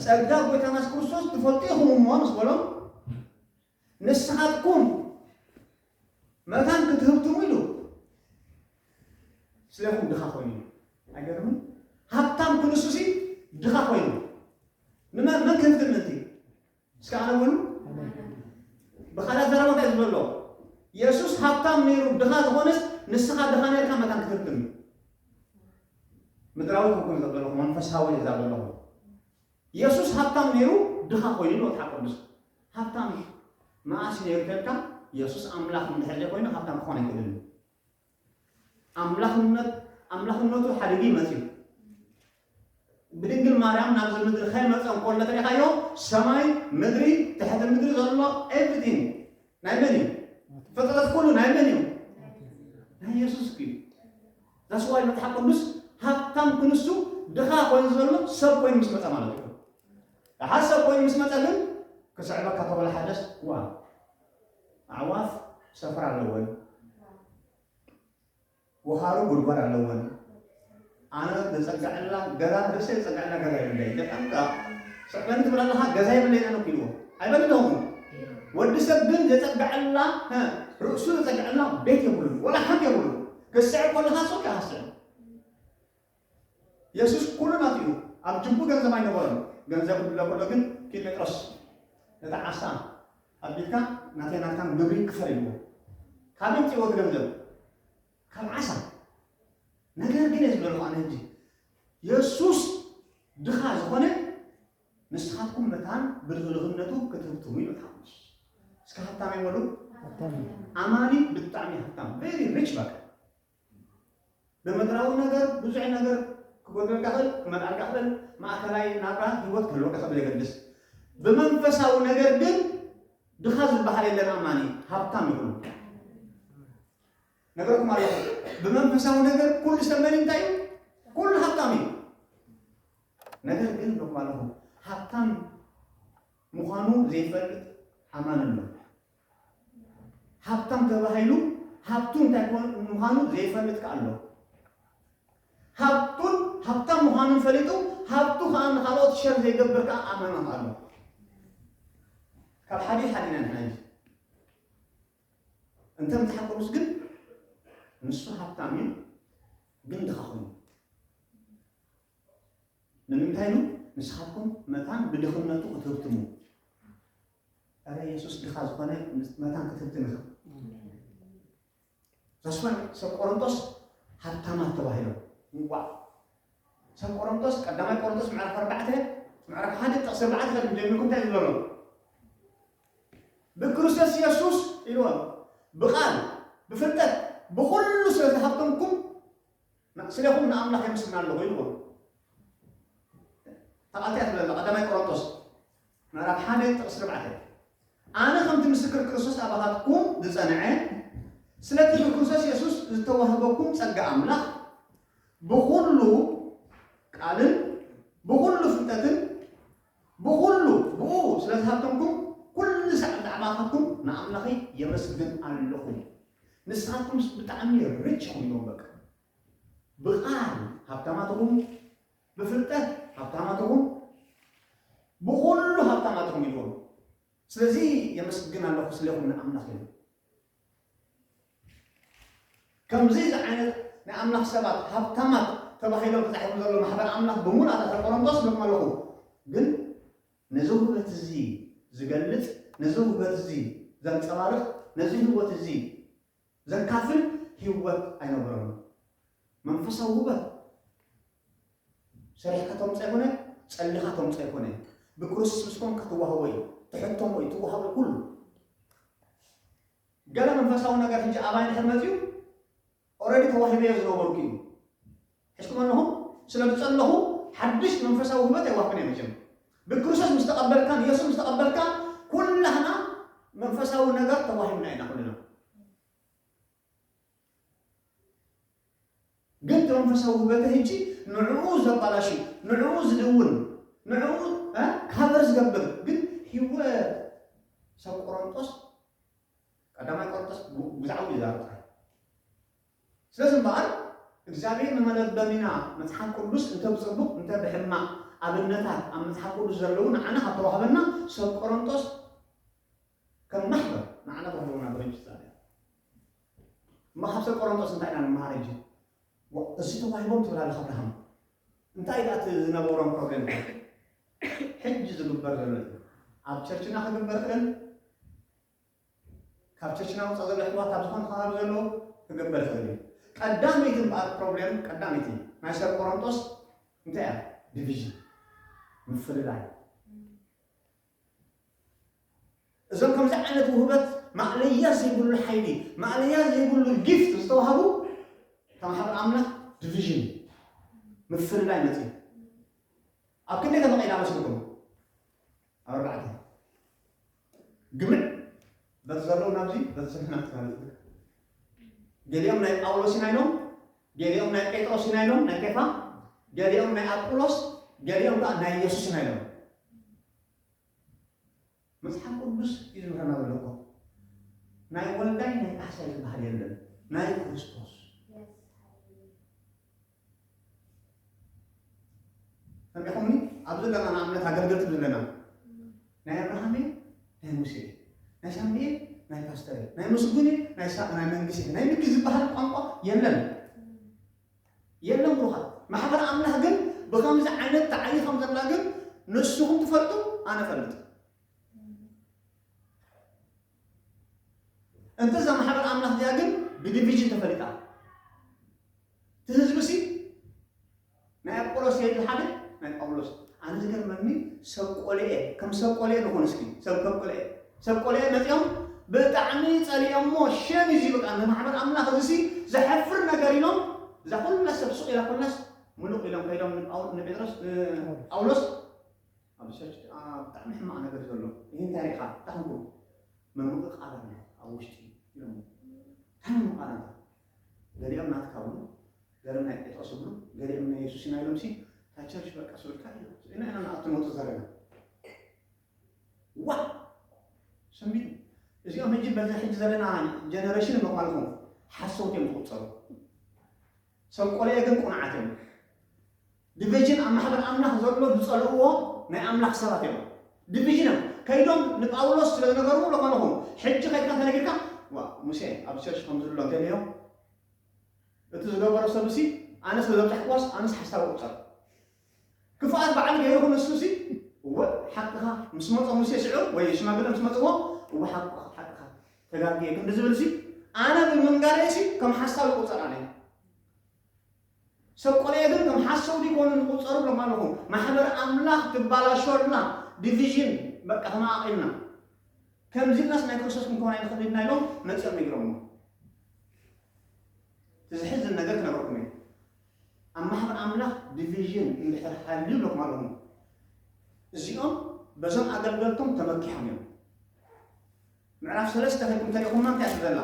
ጸጋ ጎይታ ናስ ክርስቶስ ትፈልጡ ኢኹም እሞ ምስ በሎም ንስኻትኩም መታን ክትህብትሙ ኢሉ ስለኹም ድኻ ኮይኑ ኣይገርምን ሃብታም ክንሱሲ ድኻ ኮይኑ ንመን ክህብትም እስከ ኣነ በሉ። ብኻልእ ኣዘራርባ እንታይ እዩ ዘሎ? የሱስ ሃብታም ነይሩ ድኻ ዝኾነስ ንስኻ ድኻ ነርካ መታን ክትርክብ እዩ። ምድራዊ ክኩን ዘለኹ መንፈሳዊ እዛ ዘለኹ የሱስ ሃብታም ነይሩ ድኻ ኮይኑ ኢሉ መጽሓፍ ቅዱስ ሃብታም መዓስ ነይሩ ተልካ የሱስ ኣምላኽ እንድሕር ዘይኮይኑ ሃብታም ክኾን ኣይክእልን እዩ። ኣምላኽነት ኣምላኽነቱ ሓዲጊ መጺኡ ብድንግል ማርያም ናብዚ ምድሪ ከይመፀ እኮ እንተሪኻዮ ሰማይ ምድሪ ትሕቲ ምድሪ ዘሎ ኤቭሪቲንግ ናይ መን እዩ ፍጥረት ኩሉ ናይ መን እዩ ናይ የሱስ እዩ ዛስዋይ መፅሓፍ ቅዱስ ሃብታም ክንሱ ድኻ ኮይኑ ዘሎ ሰብ ኮይኑ ምስ መፀ ማለት እዩ ደሓር ሰብ ኮይኑ ምስ መፀ ግን ክስዕበካ ተበለ ሓደስ ዋ ኣዕዋፍ ሰፈር ኣለወን፣ ወኻሩ ጉድጓድ ኣለወን። ኣነ ዘፀግዐላ ገዛ ርእሰይ ዘፀግዐላ ገዛ የብለይ ደቀምጣ ስዕበኒ ትብል ኣለኻ ገዛ የብለይ ኣነ ክኢልዎ ኣይበለኹ ወዲ ሰብ ግን ዘፀግዐላ ርእሱ ዘፀግዐላ ቤት የብሉን ወላ ሓንቲ የብሉን ክስዕብ ከለኻ ሰው ይሃስዕ የሱስ ኵሉ ናቱ'ዩ፣ ኣብ ጅብኡ ገንዘብ ኣይነበሮን፣ ገንዘብ ክድሎ ከሎ ግን ኪድ ጴጥሮስ ነታ ዓሳ ኣብ ቢትካ ናተይ ናትካን ግብሪ ክፈል ኢልዎ። ካበይ ኣምጺእዎ እቲ ገንዘብ? ካብ ዓሳ። ነገር ግን እየ ዝብለልኹ ኣነ ሕጂ የሱስ ድኻ ዝኾነ ንስኻትኩም መታን ብድኽድኽነቱ ክትህብትሙ ኢሉ ተሓጎስ። እስከ ሃብታም እየ በሉ። ኣማኒ ብጣዕሚ ሃብታም very rich በቃ ብምድራዊ ነገር ብዙሕ ነገር ክጎድለልካ ይኽእል፣ ክመልኣልካ ይኽእል፣ ማእከላይ ናብራ ህይወት ክህልወካ ይኽእል ብዘየገድስ። ብመንፈሳዊ ነገር ግን ድኻ ዝበሃል የለን ኣማኒ፣ ሃብታም እዩ ኩሉ። ነገርኩም ኣለኹ ብመንፈሳዊ ነገር ኩሉ ዝተመኒ እንታይ እዩ? ኩሉ ሃብታም እዩ። ነገር ግን እብለኩም ኣለኹ ሃብታም ምዃኑ ዘይፈልጥ ኣማኒ ኣሎ። ሃብታም ተባሂሉ ሃብቱ እንታይ ኮን ምዃኑ ዘይፈልጥ ከኣ ኣሎ። ሃብቱን ሃብታም ምዃኑን ፈሊጡ ሃብቱ ከኣ ንኻልኦት ሸር ዘይገብር ከኣ ኣማና ከኣ ኣሎ። ካብ ሓዲ ሓዲና ንሕና እዩ። እንተ መጽሓፍ ቅዱስ ግን ንሱ ሃብታም እዩ ግን ድኻ ኮይኑ ንምንታይ ኢሉ ንስኻትኩም መታን ብድኽነቱ ክትህብትሙ እረ ኢየሱስ ድኻ ዝኾነ መታን ክትብትን ኢኻ ዛስፋን ሰብ ቆሮንቶስ ሃብታማት ተባሂሎም እንቋዕ ሰብ ቆሮንቶስ ቀዳማይ ቆሮንቶስ ምዕራፍ ኣርባዕተ ምዕራፍ ሓደ ጥቕሲ ኣርባዕተ ከድም ጀሚርኩም እንታይ ዝብለሎ ብክርስቶስ ኢየሱስ ኢልዎም ብቃል ብፍልጠት ብኩሉ ስለ ዝሃብተምኩም ስለኹም ንኣምላኽ የምስግና ኣለኹ ኢልዎም ተቓልቲያ ትብለላ ቀዳማይ ቆሮንቶስ ምዕራፍ ሓደ ጥቕሲ ኣርባዕተ ኣነ ከምቲ ምስክር ክርስቶስ ኣባኻትኩም ዝጸንዐ ስለቲ ብክርስቶስ የሱስ ዝተዋህበኩም ጸጋ ኣምላኽ ብኹሉ ቃልን ብኹሉ ፍልጠትን ብኹሉ ብኡ ስለ ዝሃብተምኩም ኩሉ ሳዕ ብዛዕባኻትኩም ንኣምላኸይ የመስግን ኣለኹ። ንስኻትኩም ብጣዕሚ ርች ኢኹም ኢሎም በቃ ብቃል ሃብታማት ኢኹም፣ ብፍልጠት ሃብታም ኣትኹን፣ ብኹሉ ሃብታም ኣትኹን ኢልዎም። ስለዚ የመስግን ኣለኹ ስለኹም ንኣምላኽ ኢሉ። ከምዚ ዝዓይነት ናይ ኣምላኽ ሰባት ሃብታማት ተባሂሎም ተጻሒፉ ዘሎ ማሕበር ኣምላኽ ብሙሉ ኣታተ ቆሮንቶስ ልኩም ኣለኹ። ግን ነዚ ውህበት እዚ ዝገልጽ ነዚ ውህበት እዚ ዘንጸባርቕ ነዚ ህይወት እዚ ዘካፍል ህይወት ኣይነበሮምን። መንፈሳዊ ውበት ሰሪሕካ ተምጾ ኣይኮነ፣ ጸሊኻ ተምጾ ኣይኮነ፣ ብክርስቶስ ምስ ኮንካ ትዋህቦ እዩ፣ ትሕተሞ እዩ፣ ትዋህቦ እዩ ኩሉ። ገለ መንፈሳዊ ነገር ሕጂ ኣባይ እንድሕር መጺኡ ኦልሬዲ ተዋሂበዮ ዝነበርኩ እዩ። ሒዝኩም ኣለኹም ስለ ዝጸለኹ ሓድሽ መንፈሳዊ ውህበት ኣይዋህብን እየ መቸም ብክርስቶስ ምስ ተቐበልካ ንየሱስ ምስ ተቐበልካ ኩላህና መንፈሳዊ ነገር ተዋሂብና ኢና ኩልና ግን እቲ መንፈሳዊ ውህበት ህጂ ንዕኡ ዘባላሽ ንዕኡ ዝድውን ንዕኡ እ ካበር ዝገብር ግን ህይወት ሰብ ቆሮንጦስ ቀዳማይ ቆሮንጦስ ብዛዕባ ይዛረብ ጥራይ ስለዚ እምበኣር እግዚኣብሔር ንመለበሚና መጽሓፍ ቅዱስ እንተ ብጽቡቕ እንተ ብሕማቕ ኣብነታት ኣብ መጽሓፍ ቅዱስ ዘለዉ ንዓና ካብ ተዋህበና ሰብ ቆሮንጦስ ከም ማሕበር ንዓና ተዋህበና ብርጅት እማ ካብ ሰብ ቆሮንጦስ እንታይ ኢና ንመሃር እጂ እዚ ተዋሂቦም ትብል ኣለካ ኣብርሃም እንታይ ደኣ እቲ ዝነበሮም ፕሮብሌም ሕጂ ዝግበር ዘሎ እዩ ኣብ ቸርችና ክግበር ክእል ካብ ቸችና ወፃእ ዘሎ ኣሕዋት ኣብ ዝኾነ ከባቢ ዘለዉ ክግበር ይኽእል እዩ። ቀዳመይቲ እምበኣር ፕሮብሌም ቀዳመይቲ ናይ ሰብ ቆሮንቶስ እንታይ እያ? ዲቪዥን ምፍልላይ። እዞም ከምዚ ዓይነት ውህበት ማእለያ ዘይብሉ ሓይሊ ማእለያ ዘይብሉ ጊፍት ዝተዋህቡ ተማሓሩ ኣምላኽ ዲቪዥን ምፍልላይ መፅኡ ኣብ ክንደይ ተመቂላ መስልኩም ኣብ ኣርባዕተ ግብሪ በቲ ዘለዉ ናብዚ በቲ ስንፍና ትላለፍ ገሊኦም ናይ ጳውሎስ ኢና ኢሎም ገሊኦም ናይ ጴጥሮስ ኢና ኢሎም ናይ ኬፋ ገሊኦም ናይ ኣጵሎስ ገሊኦም ከዓ ናይ ኢየሱስ ኢና ኢሎም መጽሓፍ ቅዱስ እዩ ዝምህረና ዘሎ እኮ ናይ ወልዳይ ናይ ካሕሳይ ዝበሃል የለን ናይ ክርስቶስ ሰሚዕኹምኒ? ኣብዚ ኣለና ንኣብነት ኣገልገልቲ ዘለና ናይ ኣብርሃም እየ ናይ ሙሴ እየ ናይ ሳሚ እየ ናይ ፓስተር እየ ናይ ምስጉን እየ ናይ ሳ ናይ መንግስት እየ ናይ ምኪ ዝበሃል ቋንቋ የለን የለን ብሩኻት ማሕበር ኣምላኽ ግን ብከምዚ ዓይነት ተዓይ ከም ዘላ ግን ንስኹም ትፈልጡ ኣነ ፈልጥ እንተዛ ማሕበር ኣምላኽ እዚኣ ግን ብዲቪዥን ተፈሊጣ እቲ ህዝቢ'ሲ ናይ ኣጵሎስ ዘይተሓደ ናይ ጳውሎስ ኣነ ዝገርመኒ ሰብ ቆልኤ ከም ሰብ ቆልኤ ንኹን እስኪ ሰብ ከም ቆልኤ ሰብ ቆልኤ መጺኦም ብጣዕሚ ጸሊኦሞ ሸም እዚ በቃ ንማሕበር ኣምላኽ እዚሲ ዘሕፍር ነገር ኢሎም እዛ ኩላ ሰብ ሱቕ ኢላ ኩላስ ምሉቕ ኢሎም ከይዶም ንጴጥሮስ ንጳውሎስ ኣብ ቸርች ብጣዕሚ ሕማቕ ነገር ዘሎ ይህ እንታይ ርኢኻ እንታይ ክንኩም ምምቕቓል ኣሎ ኣብ ውሽጢ ኢሎም እንታይ ምምቕቓል ኣሎ ገሊኦም ናትካ ብሉ ገርም ናይ ጴጥሮስ ይብሉ ገሊኦም ናይ የሱስ ኢና ኢሎምሲ እታ ቸርች በቃ ስብርካ ኢሎም ስኢና ኢና ንኣቱ ንወጽእ ዘለና ዋ ሰሚቱ እዚኦም ሕጂ በዚ ሕጂ ዘለና ጀነሬሽን እሞ ማለት ነው ሓሰውት እዮም ዝቁጸሩ ሰብ ቆልኤ ግን ቁንዓት እዮም ድቪዥን ኣብ ማሕበር ኣምላኽ ዘሎ ዝጸልእዎ ናይ ኣምላኽ ሰባት እዮም ድቪዥን እዮም ከይዶም ንጳውሎስ ስለ ዝነገርዎ ለኾነ ኹን ሕጂ ከድካ ተነጊርካ ዋ ሙሴ ኣብ ቸርች ከምዚ ኣሎ እንተልዮ እቲ ዝገበሮ ሰብሲ ኣነ ስለ ዘብጻሕክዋስ ኣነስ ሓሳብ ቁጸር ክፍኣት በዓል ገይርኹ ንሱሲ እወ ሓቅኻ ምስ መጾ ሙሴ ስዑ ወይ ሽማግለ ምስ መጽዎ እወ ሓቅኻ ሓቅኻ ተጋግየ ክንዲ ዝብልሲ ኣነ ብምንጋረይሲ ከም ሓሳብ ቁጸር ኣነ ሰብ ቆሬ ግን ከም ሓሰው ዲኮኑ ንቁጸሩ ብለኩም ኣለኩ ማሕበር ኣምላክ ትባላሾ ኣላ ዲቪዥን በቃ ተማቃቂልና ከምዚ ኢልናስ ናይ ክርስቶስ ክንከውን ኣይንክእልን ኢና ኢሎም መጺኦም ነጊሮሞ እቲ ዝሕዝን ነገር ክነግረኩም እየ ኣብ ማሕበር ኣምላክ ዲቪዥን እንድሕር ሃልዩ ብለኩም ኣለኩ እዚኦም በዞም ኣገልገልቶም ተመኪሖም እዮም ምዕራፍ ሰለስተ ከድኩም ተሪእኹማ እንታይ ትብል ኣላ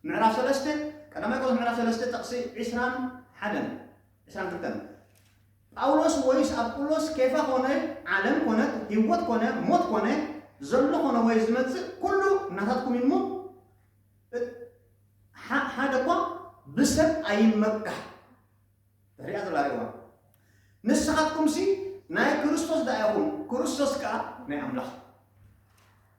ምዕራፍ ሰለስተ ቀዳማይ ቆሮንቶስ ምዕራፍ ሰለስተ ጥቕሲ ዕስራን ሓደን ዕስራን ክልተን ጳውሎስ ወይስ ኣጵሎስ ኬፋ ኮነ ዓለም ኮነት ህይወት ኮነ ሞት ኮነ ዘሎ ኮነ ወይ ዝመጽእ ኩሉ እናታትኩም እዩ እሞ ሓደ እኳ ብሰብ ኣይመካሕ ሪኣ ዘላ ሪዋ ንስኻትኩምሲ ናይ ክርስቶስ ዳኣ ኢኹም ክርስቶስ ከዓ ናይ ኣምላኽ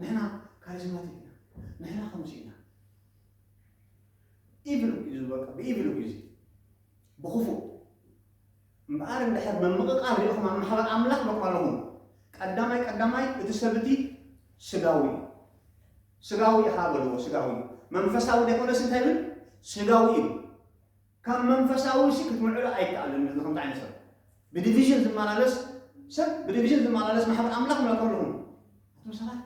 ንሕና ካሪዝማቲክ ኢና፣ ንሕና ከምዚ ኢና ኢቪል እዩ ዝበቃ ብኢቪል እዩ እዚ ብክፉእ እምበኣር እንድሕር ምምቕቓል ሪኢኹም ኣብ ማሕበር ኣምላኽ በቃለኹም ቀዳማይ ቀዳማይ እቲ ሰብ እቲ ስጋዊ እዩ ስጋዊ ኢኻ በልዎ ስጋዊ እዩ መንፈሳዊ ዘይኮነስ እንታይ ይብል ስጋዊ እዩ ካብ መንፈሳዊ ሲ ክትምዕዶ ኣይከኣልን እዚ ከምዚ ዓይነት ሰብ ብዲቪዥን ዝመላለስ ሰብ ብዲቪዥን ዝመላለስ ማሕበር ኣምላኽ ምለከልኹም ኣቶም ሰባት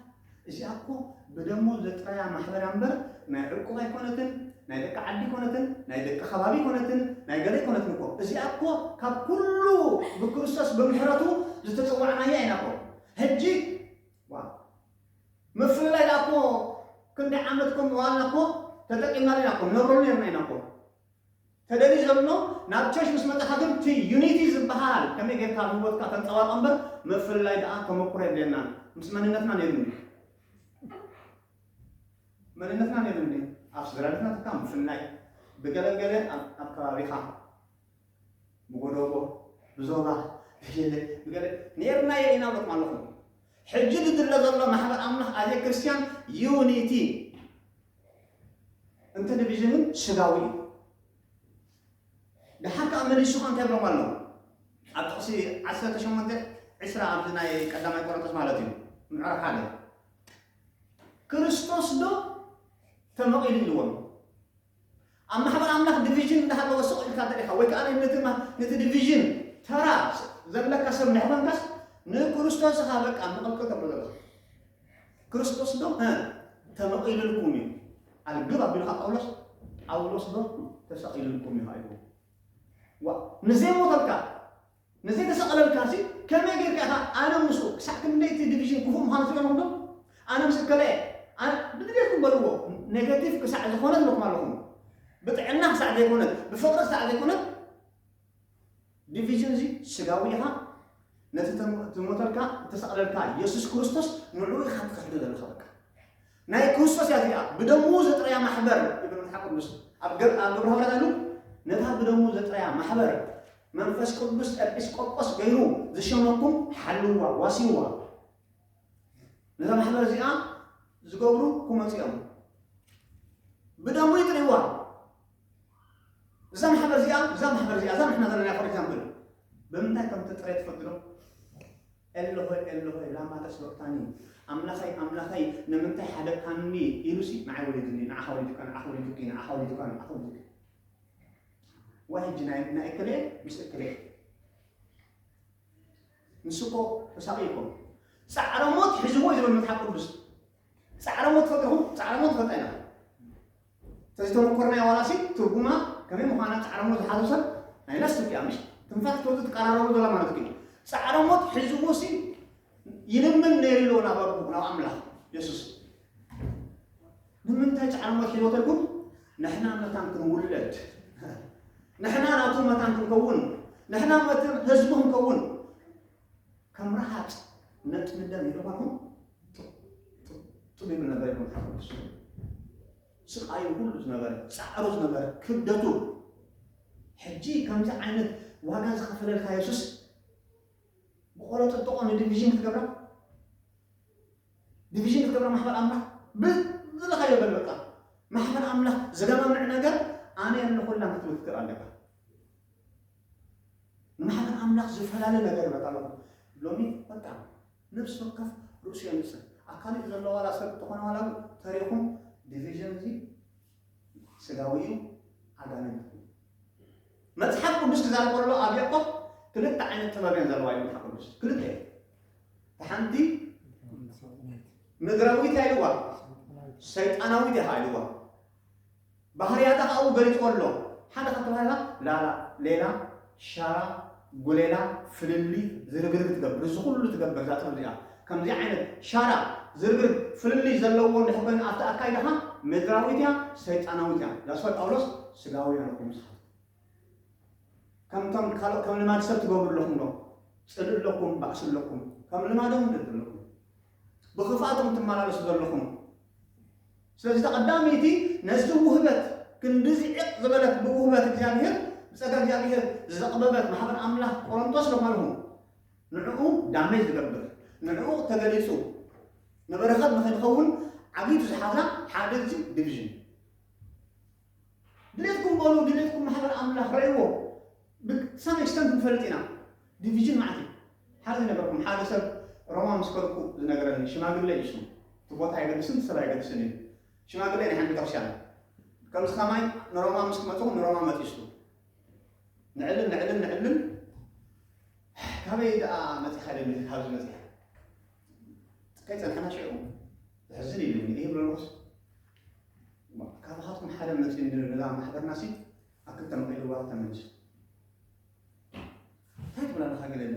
እዚኣ እኮ ብደሞ ዘጥረያ ማሕበር ኣንበር ናይ ዕቁብ ኣይኮነትን ናይ ደቂ ዓዲ ኮነትን ናይ ደቂ ከባቢ ኮነትን ናይ ገለ ኮነትን እኮ እዚኣ እኮ ካብ ኩሉ ብክርስቶስ ብምሕረቱ ዝተፀዋዕናያ ኢና እኮ ሕጂ ምፍልላይ ደኣ እኮ ክንደይ ዓመት እኮ ምባልና እኮ ተጠቂምናሉ ኢና እኮ ነብረሉ ኔርና ኢና እኮ ተደልዩ ዘሎ ናብ ቸሽ ምስ መጻኻ ግን እቲ ዩኒቲ ዝበሃል ከመይ ጌርካ ኣብ ህይወትካ ተንጸባርቆ እምበር ምፍልላይ ደኣ ተመኩሮ የድልየናን ምስ መንነትና ነይሩ እንዴ መንነትና ነይሩ እንዴ ኣብ ስድራቤትና ትካ ምፍልላይ ብገለ ገለ ኣብ ከባቢኻ ብጎደቦ ብዞባ ብፍልልይ ብገለ ኔርናዮ ኢና እብለኩም ኣለኹ። ሕጂ ዝድለ ዘሎ ማሕበር ኣምላኽ ኣዜ ክርስትያን ዩኒቲ እንተ ዲቪዥን ግን ስጋዊ እዩ። ድሓር ከኣ መሊሱ ከኣ እንታይ ይብሎም ኣሎ ኣብ ጥቕሲ ዓሰርተ ሸሞንተ ዕስራ ኣብዚ ናይ ቀዳማይ ቆሮንቶስ ማለት እዩ ምዕራፍ ሓደ ክርስቶስ ዶ ተመቒሉ ኢልዎም ኣብ ማሕበር ኣምላኽ ዲቪዥን እንዳሃለወ ስቕ ኢልካ እንተድኻ ወይ ከኣ ነቲ ነቲ ዲቪዥን ተራ ዘለካ ሰብ እንድሕር ኮንካስ ንክርስቶስ ኢኻ በቃ ምቕልቅል ተብሎ ዘለኻ ክርስቶስ ዶ ተመቒልልኩም እዩ ኣልግብ ኣቢልካ ጳውሎስ ጳውሎስ ዶ ተሰቒልልኩም እዩ ሃይዎ ዋ ንዘይሞተልካ ነዚ ተሰቐለልካሲ ከመይ ጌርካ ኢኻ ኣነ ምስኡ ክሳዕ ክንደይ እቲ ዲቪዥን ክፉእ ምዃኑ ትርእዮ ኣለኹም ዶ? ኣነ ምስ እከለ እየ ኣነ ብድሌትኩም በልዎ ኔጋቲቭ ክሳዕ ዝኾነት ኢለኩም ኣለኹ ብጥዕና ክሳዕ ዘይኮነት ብፍቕሪ ክሳዕ ዘይኮነት ዲቪዥን እዚ ስጋዊ ኢኻ ነቲ ትሞተልካ እተሰቕለልካ የሱስ ክርስቶስ ንዕኡ ኢኻ ትኸሕዶ ዘለኻ በቃ ናይ ክርስቶስ እያ እዚኣ ብደሙ ዘጥረያ ማሕበር ይብል መጽሓፍ ቅዱስ ኣብ ግብረ ሐዋርያት ኣሉ ነታ ብደሙ ዘጥረያ ማሕበር መንፈስ ቅዱስ ኤጲስቆጶስ ገይሩ ዝሸመኩም ሓልዋ ዋሲዋ ነዛ ማሕበር እዚኣ ዝገብሩ ክመፁ እዮም ብደሙ ይጥሪዋ እዛ ማሕበር እዚኣ እዛ ማሕበር እዚኣ እዛ ንሕና ዘለና ፎር ኤግዛምፕል ብምንታይ ከም ትጥረ ትፈልጡ ዶ ኤሎሆይ ኤሎሆይ ላማ ተስበቅታኒ ኣምላኸይ ኣምላኸይ ንምንታይ ሓደግካኒ ኢሉሲ ንዓይ ወሪዱኒ ንዓኻ ወሪዱካ ንዓኺ ወሪዱኪ ንዓኻ ወሪዱካ ንዓኺ ወሪዱኪ ዋይ ሕጂ ናይ ናይ እከለ ምስ እከለ ንሱ እኮ ተሳቂዩ እኮ ጻዕረ ሞት ሒዝዎ እዩ ዝብል መጽሓፍ ቅዱስ ጻዕረ ሞት ፈጥርኹም ጻዕረ ሞት ንፈልጣ ኢና ተዝተመኮርናዮ ዋላሲ ትርጉማ ከመይ ምዃና ጻዕረ ሞት ዝሓዞ ሰብ ናይ ናስ ትብያ ምሽ ትንፋስ ክትወጽእ ትቀራረቡ ዘላ ማለት እዩ ጻዕረ ሞት ሒዝዎ ሲ ይልምን ነይሩ ኣሎ ናብ ኣቦ ናብ ኣምላኽ የሱስ ንምንታይ ጻዕረ ሞት ሒዝዎ ተልኩም ንሕና መታን ክንውለድ ንሕና ናቱ መታን ክንከውን ንሕና መታን ህዝቡ ክንከውን ከም ረሃፅ ነጥ ምደም ኢሉ ኾኑ ጥቢብ ነበር ይኹን ሓፍስ ስቃዩ ኩሉ ዝነበረ ፃዕሩ ዝነበረ ክብደቱ ሕጂ ከምዚ ዓይነት ዋጋ ዝኸፈለልካ የሱስ ብቆሎ ጥጥቆ ንዲቪዥን ክትገብራ ዲቪዥን ክትገብራ ማሕበር ኣምላኽ ብዝለኻዮ በል በቃ ማሕበር ኣምላኽ ዝገማምዕ ነገር ኣነ ኣለኹላ ክትብል ክትክእል ኣለካ ንማሕበር ኣምላኽ ዝፈላለ ነገር ይመጣ ኣሎ ሎሚ በቃ ነፍሲ ወከፍ ርእሱ የምጽእ ኣብ ካልእ ዘሎ ዋላ ሰብ ተኾነ ዋላ ተሪኹም ዲቪዥን እዚ ስጋዊ እዩ ኣጋንንት መጽሓፍ ቅዱስ ክዛረብ ከሎ ኣብ ያዕቆብ ክልተ ዓይነት ጥበብ እየን ዘለዋ እዩ መጽሓፍ ቅዱስ ክልተ እዩ ሓንቲ ምድራዊት ኢልዋ ሰይጣናዊት ኢኻ ኢልዋ ባህርያታ ከኣ ኣብኡ ገሊጽዎ ኣሎ። ሓደ ካብቲ ባህርያታ ላላ፣ ሌላ፣ ሻራ፣ ጉሌላ፣ ፍልልይ፣ ዝርግርግ ትገብር። እዚ ኩሉ ትገብር እዛ ጥበብ እዚኣ። ከምዚ ዓይነት ሻራ፣ ዝርግርግ፣ ፍልልይ ዘለዎ እንድሕር ኮይኑ ኣብቲ ኣካይዳኻ ምድራዊት እያ ሰይጣናዊት እያ። That's why ጳውሎስ ስጋውያን ኢኹም ንስኻትኩም። ከምቶም ካልኦት ከም ልማድ ሰብ ትገብሩ ኣለኹም ዶ? ጽልኢ ኣለኩም፣ ባእሲ ኣለኩም፣ ከም ልማዶም ኣለኩም። ብክፍኣት ኢኹም ትመላለሱ ዘለኹም። ስለዚ እታ ቀዳመይቲ ነዚ ውህበት ክንድዚ ዕቕ ዝበለት ብውህበት እግዚኣብሔር ብጸጋ እግዚኣብሔር ዘቕበበት ማሕበር ኣምላኽ ቆሮንቶስ ለማልኹ ንዕኡ ዳሜጅ ዝገብር ንዕኡ ተገሊጹ ንበረኸት ንኸይትኸውን ዓጊቱ ዝሓዛ ሓደ እዚ ዲቪዥን ድሌትኩም በሉ ድሌትኩም ማሕበር ኣምላኽ ረእይዎ ብ some extent ንፈልጥ ኢና ዲቪዥን መዓት እዩ ሓደ ዝነገርኩም ሓደ ሰብ ሮማ ምስ ከድኩ ዝነገረኒ ሽማግለ እዩ ሽሙ እቲ ቦታ ኣይገድስን እቲ ሰብ ኣይገድስን እዩ ሽማግለ ናይ ሓንቲ ቤተክርስትያን ከምዚ ከማይ ንሮማ ምስ ክመጽኹም ንሮማ መጢስኩ ንዕልል ንዕልል ንዕልል ካበይ ደኣ መጺኻ ኢለኒ ካብዚ መጺኻ ከይጸንሐና ሽዑ ዘሕዝን ኢሉኒ ይብለሎስ ካባኻትኩም ሓደ መፅኡ ነዛ ማሕበርና ሲ ኣክልተ መቂልዋ ተመልሱ እንታይ ትብላ ኣለኻ ገለለ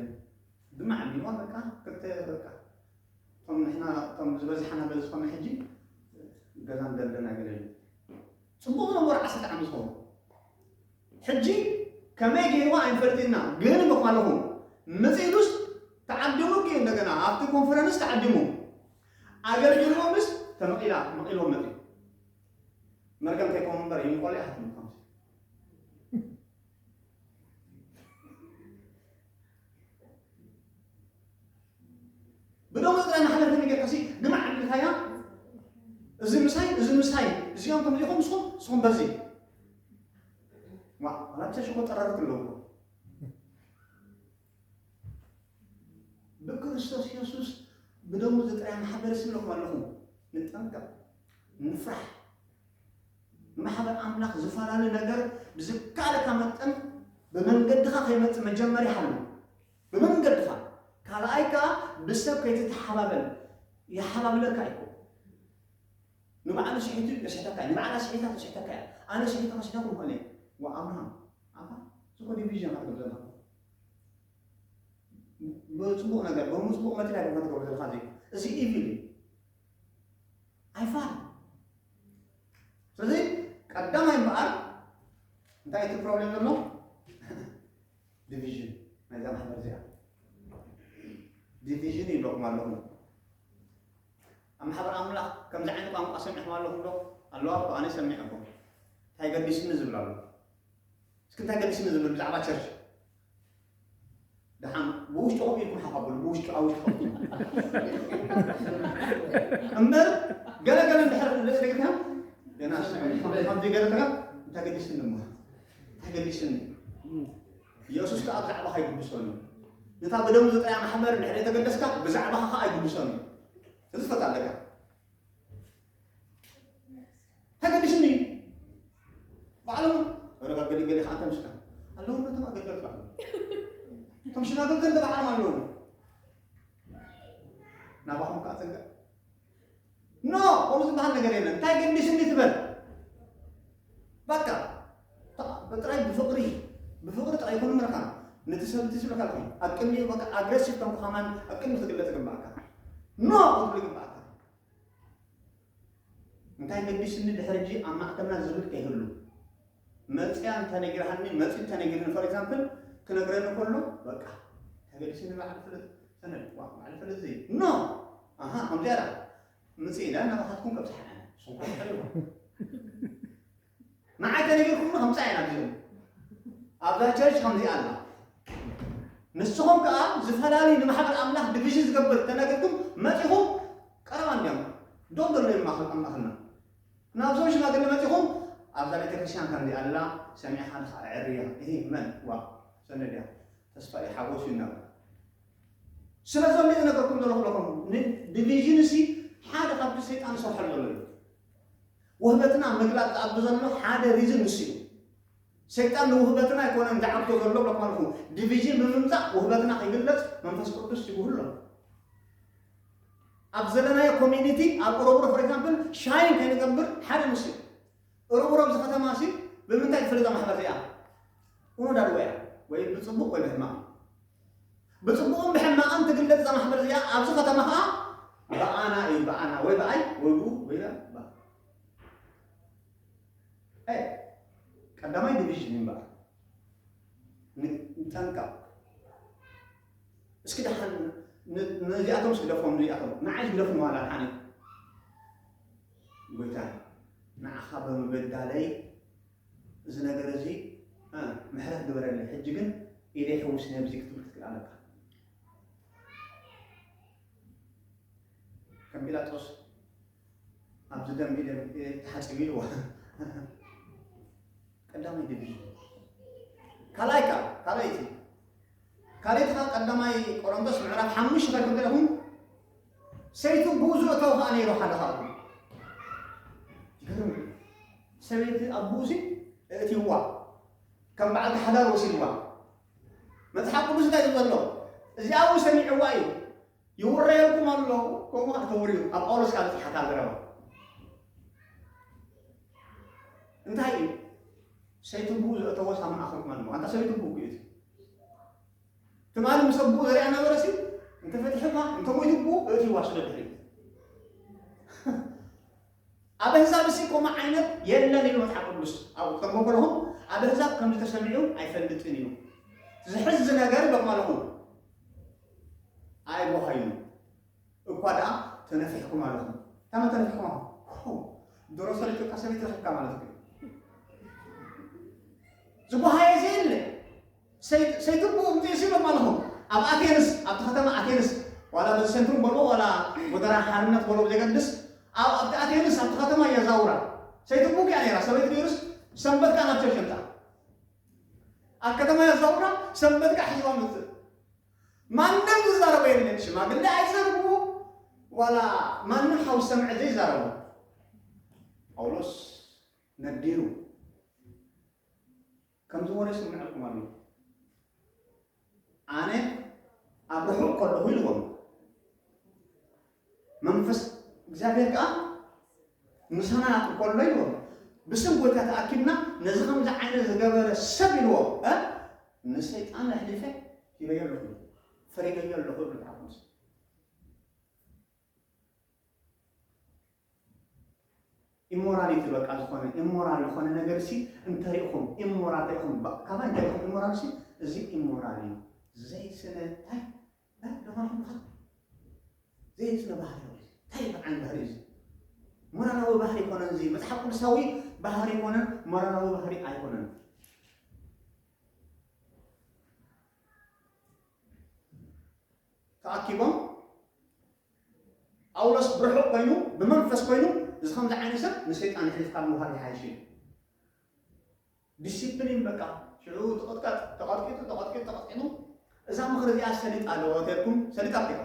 ድማ ዓሚልዋ በቃ ክልተ በቃ እቶም ንሕና እቶም ዝበዝሓና ገለ ዝኾነ ሕጂ ገዛ ንደርደና ገለለ ፅቡቅ ዝነበሩ ዓሰርተ ዓመት ዝኾኑ ሕጂ ከመይ ገይርዋ ኣይንፈልጥና ግን በኳለኹም መፅኢዱስ ተዓዲሙ ግ እንደገና ኣብቲ ኮንፈረንስ ተዓዲሙ ኣገልጊሎምስ ተመቒላ መቒሎም መጺኡ መርገም ከይኮኑ እምበር ይንቆል ይሓትም ከምዚ ብደሞ ጥራይ ማሕለፍቲ ንጌርካሲ ንማዕልልካያ እዚ ምሳይ እዚ ምሳይ እዚኦም ከምዚኹም ንስኹም ንስኹም በዚ ዋ ኣላብሰ ሽኮ ጠረርት ኣለዎ ብክርስቶስ የሱስ ብደሙ ዝጥራይ ማሕበር ስለኹም ኣለኹም ንጠንቀቕ ንፍራሕ ማሕበር ኣምላኽ ዝፈላለ ነገር ብዝከኣለካ መጠን ብመንገድኻ ከይመፅእ መጀመሪ ሓሉ ብመንገድኻ ካልኣይ ከዓ ብሰብ ከይትተሓባበል ይሓባብለካ እዩ ንባዕሉ ስሒቱ የስሕተካ እዩ ንባዕላ ስሒታ ተስሕተካ እያ ኣነ ስሒቱ ከስሕተኩም ኮነ ወኣምሃም ኣባ ዝኾ ዲቪዥን ኣርገብ ዘና ብጽቡቕ ነገር ብጽቡቕ መትል ኣይኮን ከትገብሮ ዘለካ እዚ እዚ ኢቪል እዩ ኣይፋል ስለዚ ቀዳማይ እምበኣር እንታይ እቲ ፕሮብሌም ዘሎ ዲቪዥን ናይዛ ማሕበር እዚኣ ዲቪዥን ይብለኩም ኣለኹም ኣብ ማሕበር ኣምላኽ ከምዚ ዓይነት ቋንቋ ሰሚዕኩም ኣለኹም ዶ ኣለዋ እኮ ኣነ ሰሚዐኩም እንታይ ገዲስኒ ዝብል ኣሎ እስኪ እንታይ ገዲስኒ ዝብል ብዛዕባ ቸርች ደሓን ብውሽጥኹም ኢልኩም ሓቐብሉ ብውሽጡ ኣብ ውሽጥኹም እምበር ገለ ገለ እንድሕር ልእልግናም ገና ከምዚ ገለተካ እንታይ ገዲስኒ እሞ እንታይ ገዲስኒ ኢየሱስ ከዓ ብዛዕባኻ ይግድሶን እዩ ነታ ብደም ዝጠያ ማሕበር ድሕሪ የተገደስካ ብዛዕባኻ ከዓ ይግድሶን እዩ እዚ ፈት ኣለካ ተገዲሱኒ ባዕሎም ረባ ገሊገሊ ከዓ ተምሽካ ኣለዉ ነቶም ኣገልገልቲ ባዕሎም እቶም ሽማግል ገንደ ባዕሎም ኣለዉ ናባኹም ከዓ ፅንቀ ኖ ከምኡ ዝበሃል ነገር የለን እንታይ ገዲሱኒ ትበል በቃ ጥራይ ብፍቕሪ ብፍቕሪ ጥራይ ኩሉ ምርካ ነቲ ሰብ እቲ ዝብልካ ልኹ ኣብ ቅድሚኡ በቃ ኣግረሲቭ ከም ከማን ኣብ ቅድሚ ክትግለጽ ግባእካ ኖ ክትብል ግባእካ እንታይ ገዲስኒ ድሕሪ ሕጂ ኣብ ማእከልና ዝብል ከይህሉ መፅያ እንተነጊርሃኒ መፅ እንተነጊርኒ ፎር ኤግዛምፕል ክነግረኒ ከሎ በቃ ተገዲስኒ በዓል ፍልጥ ሰነድ በዓል ፍልጥ ዘይ ኖ ኣሃ ከምዚኣ ምጽእ ኢላ ናባኻትኩም ከብጽሓና እያ ንስኹም ከ ትፈልጥዎ መዓት ተነጊርኩም ከምጻእ ኢና ቢዞም ኣብዛ ቸርች ከምዚኣ ኣላ ንስኹም ከዓ ዝፈላለዩ ንማሕበር ኣምላኽ ዲቪዥን ዝገብር ተነጊርኩም መጺኹም ቀረባ እንዲያም ዶም ደሎ እዩ ማኸል ኣምላኽና ናብዞም ሽማግለ መጺኹም ኣብዛ ቤተ ክርስቲያን ከምዚ ኣላ ሰሚዕኻ ድኻ ዕርያ ይሄ መን ዋ ሰነድያ ተስፋ እዩ ሓጎስ እዩ እናበሉ ስለ ዘሎ እዩ ዝነገርኩም ዘለኹ ለኹም ን ዲቪዥን እሲ ሓደ ካብቲ ሰይጣን ዝሰርሐሉ ዘሎ እዩ ውህበትና ምግላጽ ዝኣብ ዘሎ ሓደ ሪዝን እሱ እዩ ሰይጣን ንውህበትና ኣይኮነን ዝዓብቶ ዘሎ ለኳልኹም ዲቪዥን ብምምጻእ ውህበትና ከይግለጽ መንፈስ ቅዱስ ይብህሉ ኣሎ ኣብ ዘለናዮ ኮሚኒቲ ኣብ ቁረቡሮ ፎር ኤግዛምፕል ሻይን ከይንገብር ሓደ ምስ እዩ ቁረቡሮ ኣብዚ ከተማ ሲ ብምንታይ ትፈልጣ ማሕበር እዚኣ ቁኖ ዳድወ እያ ወይ ብፅቡቅ ወይ ብሕማቅ ብጽቡቕን ብሕማቕን ትግለጽ እዛ ማሕበር እዚኣ፣ ኣብዚ ከተማ ከኣ ብኣና እዩ ብኣና ወይ ብኣይ ወይ ብኡ ወይ ብ ብ ብ ቀዳማይ ዲቪዥን እዩ እምበኣር ንጠንቀቕ እስኪ ደሓን ነዚኣቶም እስኪ ደፎም ነዚኣቶም ንዓይ ግደፉ ዋላ ድሓን እዩ ጎይታ ንዓኻ ብምብዳለይ እዚ ነገር እዚ ምሕረት ግበረለይ ሕጂ ግን ኢደይ ሕውስኒ ኣብዚ ክትብል ክትክእል ኣለካ ከም ጲላጦስ ኣብዚ ደም ኢደ ተሓፂቡ ኢልዋ ቀዳማይ ዲቪዥን ካልኣይ ከዓ ካልኣይቲ ካልኣይቲ ከዓ ቀዳማይ ቆሮንቶስ ምዕራፍ ሓሙሽተ ከም ገለኹም ሰይቱ ግኡዙ እታው ከኣ ነይሩ ሓደ ካብኡ ግርም ሰበይቲ ኣብ ግኡዙ እእትይዋ ከም በዓልቲ ሓዳር ወሲድዋ መጽሓፍ ቅዱስ እንታይ እዩ ዘሎ እዚኣ እውን ሰሚዕዋ እዩ ይውረየልኩም ኣሎ ከምኡ ከዓ ተወርዩ ኣብ ጳውሎስ ካብ ዝሓታ ዘረባ እንታይ እዩ ሰይትቡ ዘእተወ ሳምና ኣኽርመልሞ ኣንታ ሰይትቡ እዩ ትማሊ ምስ ኣቡኡ ዘሪኣና ነበረ ሲ እንተ ፈቲሕኻ እንተ ሞይቱ ኣቡኡ እእትይዋ ስለ ድሕሪት ኣብ ኣህዛብ እሲ ከምኡ ዓይነት የለን ኢሉ መጽሓፍ ቅዱስ ኣብኡ ክተርጎ ከለኹም ኣብ ኣህዛብ ከም ዝተሰሚዑ ኣይፈልጥን እዩ ዝሕዝ ነገር ይበቕማ ኣለኹ ኣይቦሃዩ እኳ ደኣ ተነፊሕኩም ኣለኹም ታመ ተነፊሕኩም ኣለኹም ዶሮ ሰሪጭካ ሰበይት ረኺብካ ማለት እዩ ዝቦሃየ ዘየለ ሰይትብኡ እምጽኡ ሲሎም ኣለኹ ኣብ ኣቴንስ ኣብቲ ከተማ ኣቴንስ ዋላ በዚ ሴንትሩም በልዎ ዋላ ጎደራ ሓርነት በልዎ ብዘይገድስ ኣብ ኣብቲ ኣቴንስ ኣብቲ ከተማ የዛውራ ሰይትብኡ ኪኣ ነይራ ሰበይቲ ነይሩስ ሰንበት ከኣ ናብ ቸርች እምጻእ ኣብ ከተማ የዛውራ ሰንበት ከኣ ሒዝዋ ምጽእ ማንም ዝዛረቦ የለን ሽማግሌ ኣይዛረብዎ ዋላ ማንም ሓው ሰምዐ ዘይዛረቦ ጳውሎስ ነዲሩ ከምዚ ወረ ይስመዐኩም ኣሎ ኣነ ኣብ ርሑቕ ከለኹ ኢልዎም መንፈስ እግዚኣብሔር ከዓ ምሳና እንከሎ ኢልዎም ብስም ጎይታ ተኣኪብና ነዚ ከምዚ ዓይነት ዝገበረ ሰብ ኢልዎም እ ንሰይጣን ኣሕሊፈ ሂበዮ ኣለኹ ፈሪደዮ ኣለኹ ይብል መጽሓፍ ቅዱስ ኢሞራሊቲ በቃ ዝኾነ ኢሞራል ዝኾነ ነገር ሲ እንተሪእኹም ኢሞራል ሪእኹም ካባይ እንተሪእኹም ኢሞራል ሲ እዚ ኢሞራል እዩ ዘይስነ ታይ ታይ ደኾንኹም ካ ዘይስነ ባህሪ እዩ ታይ በዓል ባህሪ እዩ ሞራላዊ ባህሪ ኮነን እዚ መፅሓፍ ቅዱሳዊ ባህሪ ኮነን ሞራላዊ ባህሪ ኣይኮነን ተኣኪቦም ጳውሎስ ብርሑቕ ኮይኑ ብመንፈስ ኮይኑ እዚ ከምዚ ዓይነት ሰብ ንሰይጣን የሕሊፍካ ምውሃብ ይሓይሽ እዩ ዲሲፕሊን በቃ ሽዑ ተቐጥቀጥ ተቐጥቂጡ ተቐጥቂጡ ተቐጥቂጡ እዛ ምኽሪ እዚኣ ሰሊጥ ኣለዎ ተልኩም ሰሊጥ ኣኪባ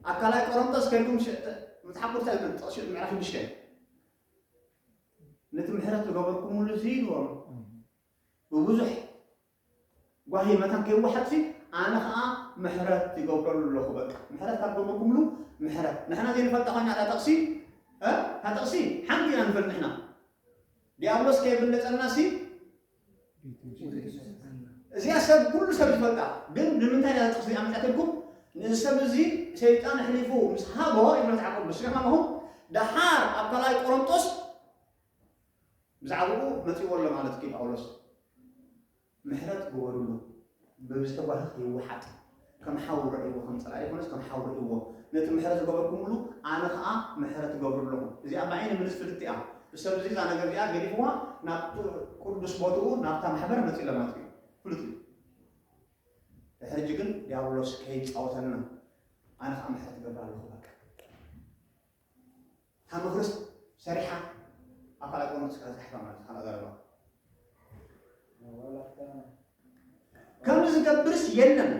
ኣብ ካልኣይ ቆሮንቶስ ከልኩም መፅሓፍ ቅዱስ ኣይኮን ጥቕሲ ምዕራፍ ሽዱሽተ ነቲ ምሕረት ዝገበርኩምሉ እዚ ኢልዎም ብብዙሕ ጓሂ መታን ከይወሓጥሲ ኣነ ከኣ ምሕረት ይገብረሉ ኣለኹ በቃ ምሕረት ካብ ገበርኩምሉ ምሕረት ንሕና ዘይንፈልጣ ኮይና እታ ጥቕሲ እ እታ ጥቕሲ ሓንቲ ኢና ንፈልጥ ንሕና ዲያብሎስ ከየብለጸናሲ እዚኣ ሰብ ኩሉ ሰብ ዝፈልጣ ግን ንምንታይ እያ ጥቕሲ ኣምጻትልኩም ንዚ ሰብ እዚ ሰይጣን ኣሕሊፉ ምስ ሃቦ ይብለ መጽሓፍ ቅዱስ ኢኹም ኣለኹም ደሓር ኣብ ካልኣይ ቆሮንጦስ ብዛዕባኡ መጺዎ ኣሎ ማለት ድዩ ጳውሎስ? ምሕረት ግበርሉ ብዝተጓህኽ ይወሓጥ ከም ሓው ርኣይዎ ከም ጸላኢ ኣይኮነስ ከም ሓው ርኣይዎ ነቲ ምሕረት ዝገበርኩምሉ ኣነ ከኣ ምሕረት እገብረሉ ኣለኹ እዚኣ ብዓይኒ ምልስ ፍልጥቲ እያ ብሰብ እዚ እዛ ነገር እዚኣ ገዲፍዋ ናብ ቅዱስ ቦትኡ ናብታ ማሕበር መጺእ ለማት እዩ ፍሉጥ እዩ ድሕሪ ሕጂ ግን ዲያብሎስ ከይጻወተና ኣነ ከኣ ምሕረት እገብር ኣለኹ በቃ እታ መክርስ ሰሪሓ ኣብ ካልኣት ወኖት ስካ ዝሓፋ ማለት ካልኣ ዘረባ ከምዚ ዝገብርስ የለን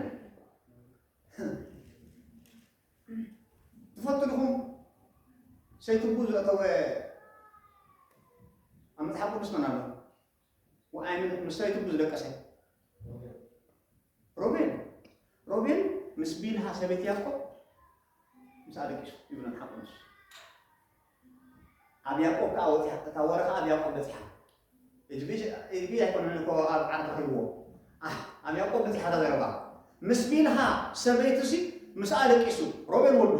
ትፈቱ ድኹም ሰይትቡ ዘእተወ ኣብ መፅሓፍ ቅዱስ መን ኣሎ ወኣይን ምስ ናይ ትጉ ዝደቀሰ ሮቤል ሮቤል ምስ ቢልሃ ሰበይት ያዕቆብ ምስ ኣለቂሱ ይብሎ ሓቁ ንሱ ኣብ ያዕቆብ ከዓ ወፂያ እታ ወረ ከዓ ኣብ ያዕቆብ በፂሓ እጅቢ ኣይኮነን እኮ ኣብ ዓር ተኺብዎ ኣብ ያዕቆብ በፂሓ እታ ዘረባ ምስ ቢልሃ ሰበይቱ ሲ ምስ ኣለቂሱ ሮቤል ወዱ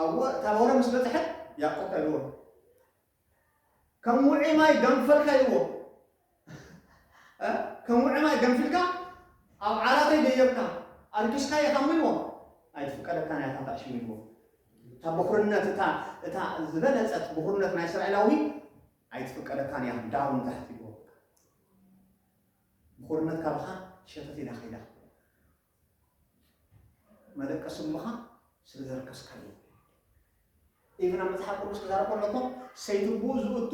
ኣብ ታቦረ ምስ በጽሐ ያእቆብ ታይ በሎ ከም ውዑይ ማይ ገንፈልካ ኢልዎ እ ከም ውዑይ ማይ ገንፊልካ ኣብ ዓራተይ ደየብካ ኣርኪስካ ኢኻ እሞ ኢልዎ ኣይትፍቀደካን እያ እታ ታዕሽም ኢልዎ እታ ብኹርነት እታ እታ ዝበለጸት ብኹርነት ናይ እስራኤላዊ ኣይትፍቀደካን እያ ዳሩ ንታሕቲ ኢልዎ ብኹርነት ካብኻ ሸተት ኢላ ከይዳ መደቀሲ እምኻ ስለ ዘርከስካዮ ኢቭን ኣብ መጽሓፍ ቅዱስ ክዛረብ ከሎ እኮ ሰይትብኡ ዝእቱ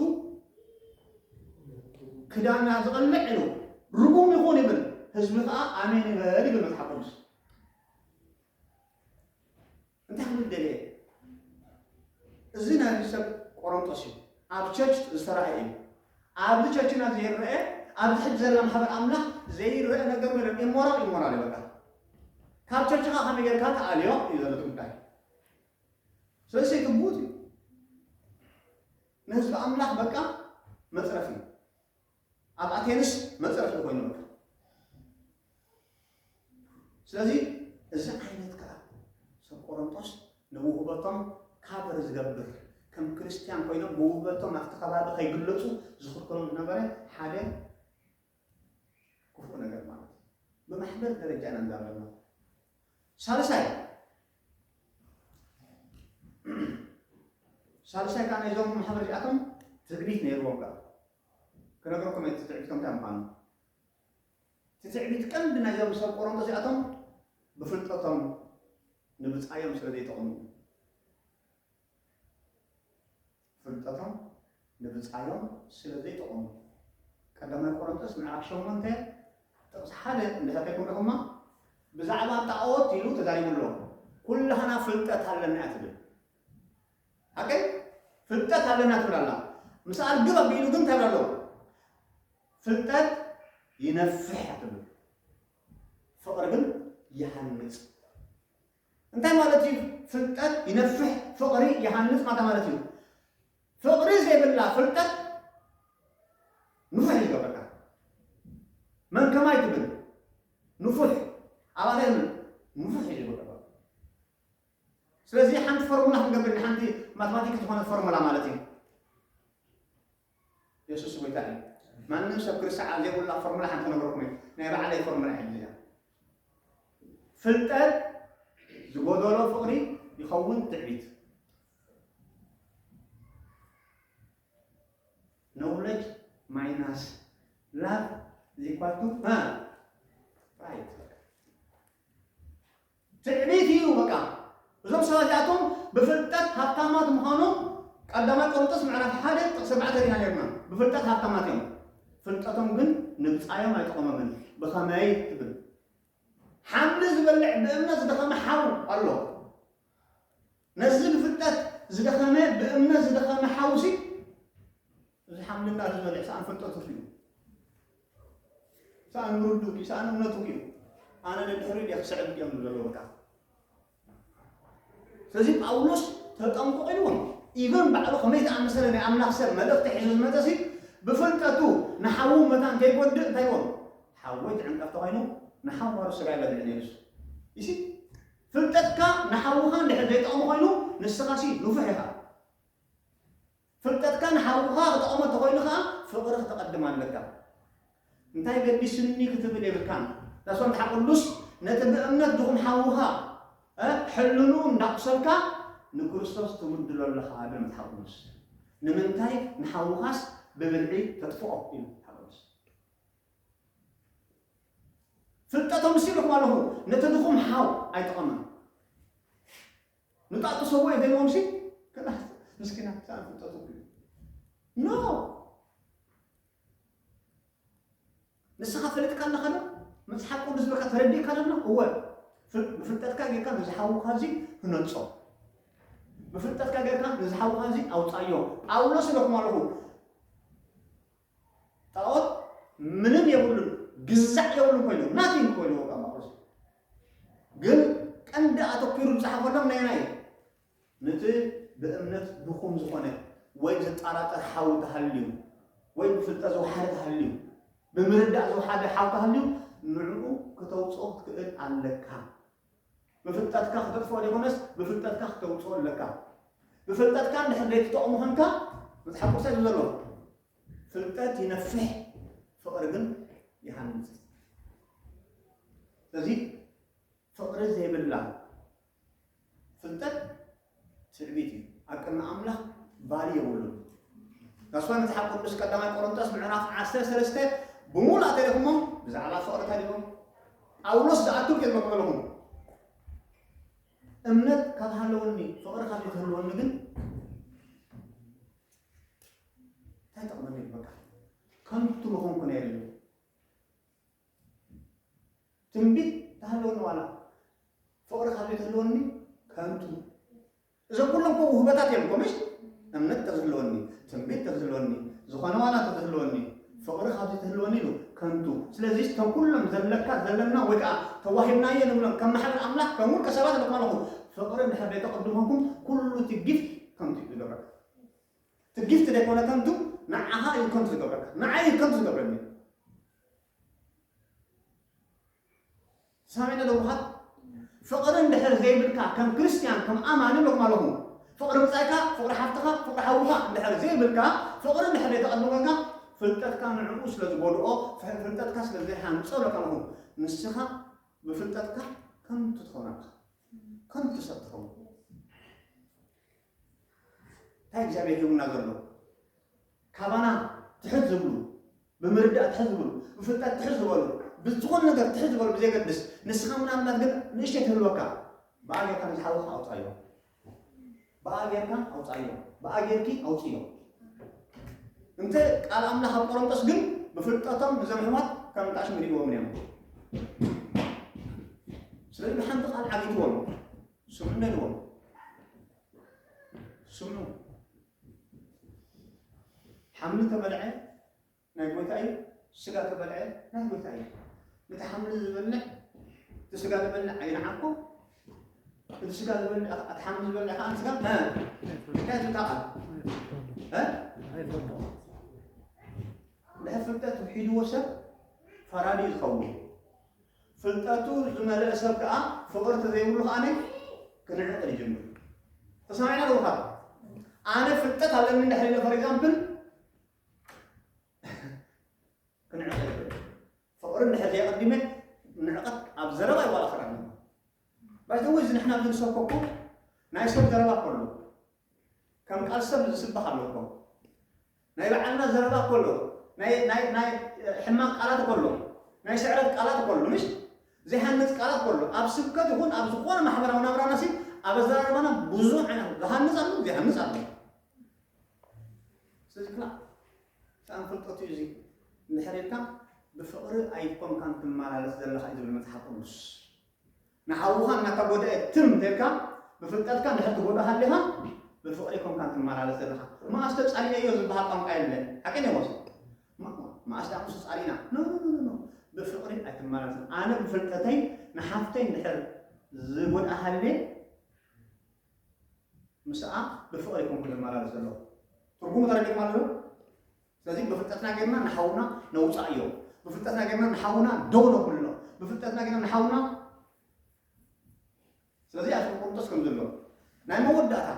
ክዳና ዝቐልዕ ኢሉ ርጉም ይኹን ይብል ህዝቢ ከዓ ኣሜን ይበል ይብል መጽሓፍ ቅዱስ እንታይ ክብል ደልየ እዩ? እዚ ናይ ሰብ ቆሮንቶስ እዩ። ኣብ ቸርች ዝተራእየ እዩ። ኣብዚ ቸርችና ዘይረአ ኣብዚ ሕጂ ዘላ ማሕበር ኣምላኽ ዘይረአ ነገር የለን። ኢሞራል ኢሞራል እዩ በቃ። ካብ ቸርችኻ ከመይ ጌርካ ተኣልዮ እዩ ዘሎ እቲ ጉዳይ። ስለዚ ግቡእ እዩ። ንህዝቢ ኣምላኽ በቃ መጽረፊ እዩ። ኣብ ኣቴንስ መፅረፊ ኮይኖም ስለዚ እዚ ዓይነት ከዓ ሰብ ቆሮንቶስ ንውህበቶም ካበር ዝገብር ከም ክርስቲያን ኮይኖም ብውህበቶም ኣብቲ ከባቢ ከይግለፁ ዝኽልክሎም ዝነበረ ሓደ ክፉእ ነገር ማለት እዩ። ብማሕበር ደረጃ ኢና ንዛረብ ኣለኹ። ሳልሳይ ሳልሳይ ከዓ ናይዞም ማሕበር እዚኣቶም ትዕቢት ነይርዎም ከዓ ክነግረኩም እየ እቲ ትዕቢቶም እንታይ ምዃኑ። እቲ ትዕቢት ቀንዲ ናይዞም ሰብ ቆሮንቶስ እዚኣቶም ብፍልጠቶም ንብጻዮም ስለ ዘይጠቕሙ እዩ። ፍልጠቶም ንብጻዮም ስለ ዘይጠቕሙ ቀዳማይ ቆሮንቶስ ምዕራፍ ሸሞንተ ጥቕሲ ሓደ እንድሕር ከይኩም ርኢኹማ ብዛዕባ ጣዖት ኢሉ ተዛሪቡ ኣሎ። ኩላህና ፍልጠት ኣለና እያ ትብል። ኦኬ ፍልጠት ኣለና ትብል ኣላ ምስኣ ርግብ ኣቢሉ ግን እንታይ ኣሎ ፍልጠት ይነፍሕ ትብል ፍቕሪ ግን ይሃንጽ እንታይ ማለት እዩ ፍልጠት ይነፍሕ ፍቕሪ ይሃንጽ ማታ ማለት እዩ ፍቕሪ ዘይብላ ፍልጠት ንፉሕ እዩ ዝገብረካ መን ከማይ ትብል ንፉሕ ኣባለ ንፉሕ እዩ ዝገብረካ ስለዚ ሓንቲ ፎርሙላ ክንገብር ኢና፣ ሓንቲ ማትማቲክ ዝኾነት ፎርሙላ ማለት እዩ። የሱስ ጎይታ እዩ። ማንም ሰብ ክርስዓብ ዘይብሉና ፎርሙላ ሓንቲ ክነግረኩም እዩ። ናይ ባዕለይ ፎርሙላ የለያ። ፍልጠት ዝጎደሎ ፍቕሪ ይኸውን ትዕቢት። ኖውለጅ ማይናስ ላቭ ዚኳቱ ራይት ትዕቢት እዩ በቃ እዞም ሰባት እዚኣቶም ብፍልጠት ሃብታማት ምዃኖም ቀዳማይ ቆሮንጦስ ምዕራፍ ሓደ ጥቕሲ ኣርባዕተ ርኢና ኔርና ብፍልጠት ሃብታማት እዮም ፍልጠቶም ግን ንብጻዮም ኣይጠቐሞምን ብኸመይ ትብል ሓምሊ ዝበልዕ ብእምነት ዝደኸመ ሓው ኣሎ ነዚ ብፍልጠት ዝደኸመ ብእምነት ዝደኸመ ሓውሲ እዚ ሓምልና ዝበልዕ ሰኣን ፍልጠቱ እዩ ሰኣን ምርዱ እዩ ሰኣን እምነቱ እዩ ኣነ ንድሕሪ እየ ክስዕብ እዮም ዘለውካ ስለዚ ጳውሎስ ተጠንቁቕ ኢልዎም ኢቨን ባዕሉ ከመይ ዝኣመሰለ ናይ ኣምላኽ ሰብ መልእኽቲ ሒዙ ዝመፀ ሲ ብፍልጠቱ ንሓዉ መታን ከይጎድእ እንታይ ኢልዎም ሓወይ ትዕንቀፍ ተኮይኑ ንሓዋሩ ስጋ ይበልዕ ነይሩ እሱ ይሲ ፍልጠትካ ንሓውኻ እንድሕር ዘይጠቕሞ ኮይኑ ንስኻሲ ንፉሕ ኢኻ። ፍልጠትካ ንሓውኻ ክጠቕሞ እንተኾይኑ ከኣ ፍቕሪ ክተቐድም ኣለካ። እንታይ ገዲስኒ ክትብል የብልካን። ዳስ መጽሓፍ ቅዱስ ነቲ ብእምነት ድኹም ሓውኻ ሕልንኡ እንዳቑሰልካ ንክርስቶስ ትብድሎ ኣለኻ ይብል መጽሓፍ ቅዱስ። ንምንታይ ንሓውኻስ ብብልዒ ተጥፍኦ ይብል መጽሓፍ ቅዱስ። ፍልጠቶምስ ኢልኹም ኣለኹ ነቲ ድኹም ሓው ኣይጠቐመን ንጣጥሰዎ የደልዎምሲ ከላስ ምስኪናት ሰኣን ፍልጠቶም እዩ ኖ ንስኻ ፈለጥካ ኣለኻ ዶ መጽሓፍ ቅዱስ በቃ ተረዲእካ ኣለና እወ ብፍልጠትካ ጌርካ ነዚ ሓውካ እዚ ህነጾ ብፍልጠትካ ጌርካ ነዚ ሓውካ እዚ ኣውጻዮ ጳውሎስ ኢለኩም ኣለኹ ጣኦት ምንም የብሉን ግዛዕ የብሉን ኮይኖም ናቲንግ ኮይኖም በቃ ማቆስ ግን ቀንዲ ኣተኲሩ ዝጸሓፈሎም ነየናይ እዩ ነቲ ብእምነት ድኹም ዝኾነ ወይ ዘጠራጥር ሓዊ ተሃልዩ ወይ ብፍልጠት ዝወሓደ ተሃልዩ ብምርዳእ ዝወሓደ ሓው ተሃልዩ ንዕኡ ከተውጽኦ ክትክእል ኣለካ ብፍልጠትካ ክተጥፍኦ ዘይኮነስ ብፍልጠትካ ክተውፅኦ ኣለካ። ብፍልጠትካ እንድሕር ዘይትጠቕሙ ኮንካ መፅሓፍ ቅዱስ እንታይ ዘሎ ፍልጠት ይነፍሕ ፍቕሪ ግን ይሃንፅ። ስለዚ ፍቕሪ ዘይብላ ፍልጠት ትዕቢት እዩ ኣብ ቅድሚ ኣምላኽ ቫልዩ የብሉን ናስዋ መጽሓፍ ቅዱስ ቀዳማይ ቆሮንቶስ ምዕራፍ ዓሰርተ ሰለስተ ብምሉእ ኣገሪኹሞ ብዛዕባ ፍቕሪ ተሪኹም ጳውሎስ ዝኣክል ግን መበልኹም እምነት ካብ ሃለወኒ ፍቕሪ ካብ ክህልወኒ ግን እንታይ ጠቕመኒ በቃ ከንቱ ምኾንኩ ነይሩ ትንቢት ተሃለወኒ ዋላ ፍቕሪ ካብ ዘይተህልወኒ ከንቱ እዞም ኩሎም እኮ ውህበታት እዮም እኮ ምሽ እምነት ተዝህልወኒ ትንቢት ተዝህልወኒ ዝኾነ ዋላ ተዝህልወኒ ፍቕሪ ካብ ዘይተህልወኒ ኢሉ ከንቱ ስለዚ እቶም ኩሎም ዘለካ ዘለና ወይ ከዓ ተዋሂብናዮ ንብሎም ከም ማሕበር ኣምላኽ ከም ውልቀ ሰባት ኣለኩም ኣለኹ ፍቕሪ እንድሕር ዘይተቐድመኩም ኩሉ እቲ ጊፍት ከንቱ እዩ ዝገብረካ እቲ ጊፍት ዘይኮነ ከንቱ ንዓኻ እዩ ከንቱ ዝገብረካ ንዓይ እዩ ከንቱ ዝገብረኒ ሰማይና ለውሃት ፍቕሪ እንድሕር ዘይብልካ ከም ክርስትያን ከም ኣማኒ ሎማ ሎኹ ፍቕሪ ብጻይካ ፍቕሪ ሓፍትኻ ፍቕሪ ሓውኻ እንድሕር ዘይብልካ ፍቕሪ እንድሕር ዘይተቐድመልካ ፍልጠትካ ንዕኡ ስለ ዝጎድኦ ፍልጠትካ ስለ ዘይሃንጾ ለካ ሎኹ ንስኻ ብፍልጠትካ ከምቲ ትኸውን ኣለኻ ከምቲ ሰብ ትኸውን እንታይ እግዚኣብሔር ሂቡና ዘሎ ካባና ትሕት ዝብሉ ብምርዳእ ትሕት ዝብሉ ብፍልጠት ትሕት ዝበሉ ብዝኾነ ነገር ትሕት ዝበሉ ብዘይገድስ ንስኻ ምናልባት ግን ንእሽተይ ትህልወካ ብኣ ጌርካ ንዝሓወካ ኣውፃዮ ብኣ ጌርካ ኣውፃዮ ብኣ ጌርኪ ኣውፅዮ እንተ ቃል ኣምላኽ ኣብ ቆሮንጦስ ግን ብፍልጠቶም እዞም ሕማት ከም ጣሽም ይሪእዎም እዮም ስለዚ ብሓንቲ ቃል ዓጊትዎም ስምዑ በልዎም ስምዑ ሓምሊ ተበልዐ ናይ ጎይታ እዩ ስጋ ተበልዐ ናይ ጎይታ እዩ ነቲ ሓምሊ ዝበልዕ እቲ ስጋ ዝበልዕ ኣይንዓኮ እቲ ስጋ ዝበልዕ እቲ ሓምሊ ዝበልዕ ከዓ ስጋ እንታይ ትታቃል ድሕር ፍልጠት ሒድዎ ሰብ ፈራዲ ዝኸውን ፍልጠቱ ዝመለኣ ሰብ ከኣ ፍቕሪ ተዘይብሉ ከኣ ክንዕቕር ይጅምር። ተሰማዒና ልኡኻት ኣነ ፍልጠት ኣለኒ እንድሕር ኢለ ፈር ኢግዛምፕል ክንዕቕር ይብል ፍቕሪ እንድሕር ዘየቐዲመ ንዕቐት ኣብ ዘረባ ይዋላ ክረኒ ባይዘወ እዚ ንሕና ኣብዚ ንሰብከኩ ናይ ሰብ ዘረባ ከሎ ከም ቃል ሰብ ዝስበኽ ኣሎ እኮ ናይ በዓልና ዘረባ እኮ ኣሎ ናይ ናይ ናይ ሕማቅ ቃላት እኮ ኣሎ ናይ ስዕረት ቃላት እኮ ኣሎ ምሽ ዘይሃንጽ ቃላት እኮ ኣሎ ኣብ ስብከት ይኹን ኣብ ዝኾነ ማሕበራዊ ናብራና ሲ ኣብ ኣዘራርባና ብዙሕ ዓይነት ዝሃንጽ ኣሎ ዘይሃንጽ ኣሎ ስለዚ ክላእ ሰኣን ፍልጠት እዩ እዚ እንድሕር ኢልካ ብፍቕሪ ኣይኮንካን ትመላለስ ዘለኻ እዩ ዝብል መጽሓፍ ቅዱስ ንሓውኻ እናተጎድኣ ትም ተልካ ብፍልጠትካ እንድሕር ትጎድኦ ሃሊኻ ብፍቕሪ ኮንካ ትመላለስ ዘለኻ መኣስ ተጻሊኤዮ ዝበሃል ቋንቋ የለን ሓቂ እንዮ ወሶ መኣስ ደኣ ምስ ተጻሊእና ኖ ኖ ኖ ኖ ብፍቕሪ ኣይትመላለስን ኣነ ብፍልጠተይ ንሓፍተይ እንድሕር ዝጎድኣ ሃልየ ምስኣ ብፍቕሪ ኮንኩ ዝመላለስ ዘለኹ ትርጉሙ ተረዲእኩም ኣለኹ ስለዚ ብፍልጠትና ጌርና ንሓውና ነውጻእዮ ብፍልጠትና ጌርና ንሓውና ደው ነብሎ ብፍልጠትና ጌርና ንሓውና ስለዚ ኣብ ቆርንጦስ ከም ዘሎ ናይ መወዳእታ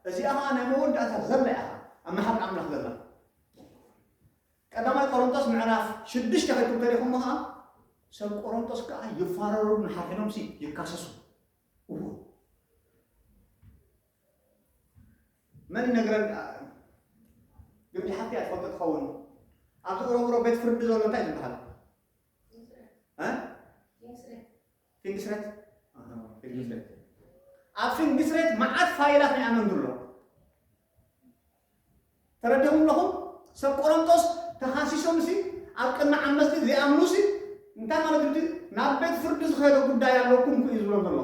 እዚኣ ከዓ ናይ መወዳእታ ዘላ ኢኻ ኣብ መሓሪ ኣምላኽ ዘላ ቀዳማይ ቆሮንጦስ ምዕራፍ ሽዱሽተ ከይኩም ተሪኹሞ ከዓ ሰብ ቆሮንጦስ ከዓ ይፋረሩ ንሓፊኖም ሲ ይካሰሱ እዎ መን ይነግረን ደኣ እዩ ግን ብሓቂ እያ ትፈልጦ ትኸውን ኣብዚ ኦሮምሮ ቤት ፍርዲ ዘሎ እንታይ ዝበሃል ፊንግስሬት ፊንግስሬት ኣብ ፊንግስሬት መዓት ፋይላት ናይ ኣመንዱ ኣሎ ተረዲኹም ኣለኹም ሰብ ቆሮንቶስ ተኻሲሶም ሲ ኣብ ቅድሚ ዓመስቲ ዘይኣምኑ ሲ እንታይ ማለት እንዲ ናብ ቤት ፍርዲ ዝኸደ ጉዳይ ኣለኩም ክዩ ዝብሎም ዘሎ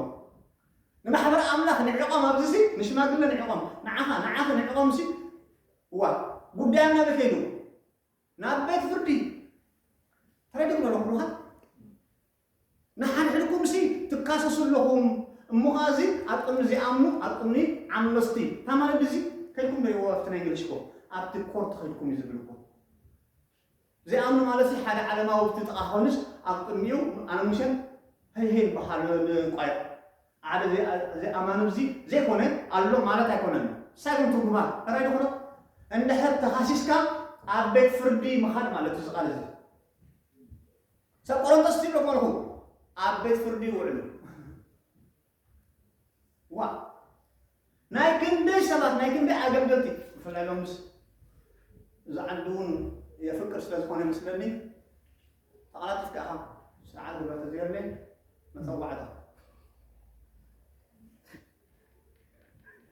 ንማሕበረ ኣምላኽ ንዕቆም ኣብዚሲ ንሽማግለ ንዕቆም ንዓኻ ንዓኺ ንዕቆምሲ እዋእ ጉዳዮም ናበይ ከይዱ ናብ ቤት ፍርዲ ተረዲኡ ዶ ነኽሩኻ ንሓድሕድኩምሲ ትካሰሱ ኣለኹም እሞ ኸኣ እዚ ኣብ ቅድሚ ዘይኣምኑ ኣብ ቅድሚ ዓመጽቲ እታ ማለት እዚ ከድኩም ዶ ኣብቲ ናይ እንግሊሽ ኮ ኣብቲ ኮርት ከድኩም እዩ ዝብልኩም ዘይኣምኑ ማለትሲ ሓደ ዓለማዊ ኣብቲ ጥቓ ክኾንስ ኣብ ቅድሚኡ ኣነ ሙሴን ሀይሀይን በሃሉ ንቋዮ ዓደ ዘይኣማኑ ብዚ ዘይኮነ ኣሎ ማለት ኣይኮነን ንሳ ግን ትርጉማ ራይ ዶኾነ እንድሕር ተኻሲስካ ኣብ ቤት ፍርዲ ምኻድ ማለት እዩ ዝቃል እዚ ሰብ ቆሮንቶስ ትብሎ ኮንኹ ኣብ ቤት ፍርዲ ይውዕሉ ዋእ ናይ ክንደይ ሰባት ናይ ክንደይ ኣገልገልቲ ብፍላይ ሎምስ እዚ ዓዲ እውን የፍቅር ስለ ዝኾነ ይመስለኒ ተቐላጢፍካ ኢኻ ስርዓት ግብረ ተዘየለ መፀዋዕታ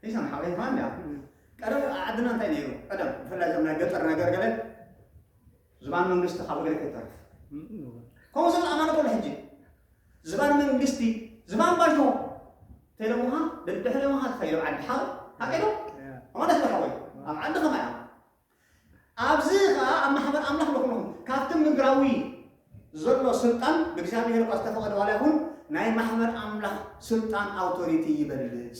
ይሰምሓ ወይ እንኳን ቀደም ዓድና እንታይ ነይሩ ቀደም ብፍላይ እዞም ናይ ገጠር ነገር ገለ ዝባን መንግስቲ ካብ እግሪ ክተርፍ ከምኡ ሰብ ዝኣማነ ከሎ ሕጂ ዝባን መንግስቲ ዝባን ባይቶ ተይለ ምዃን ደድሕሪ ምዃን ትኸይዶ ዓዲ ሓወይ ሓቂዶ ማለት ሓወይ ኣብ ዓዲ ከማይ እያ ኣብዚ ከዓ ኣብ ማሕበር ኣምላኽ ንኹንኹም ካብቲ ምድራዊ ዘሎ ስልጣን ብእግዚኣብሔር እኳ ዝተፈቐደ ዋላ ይኹን ናይ ማሕበር ኣምላኽ ስልጣን ኣውቶሪቲ ይበልፅ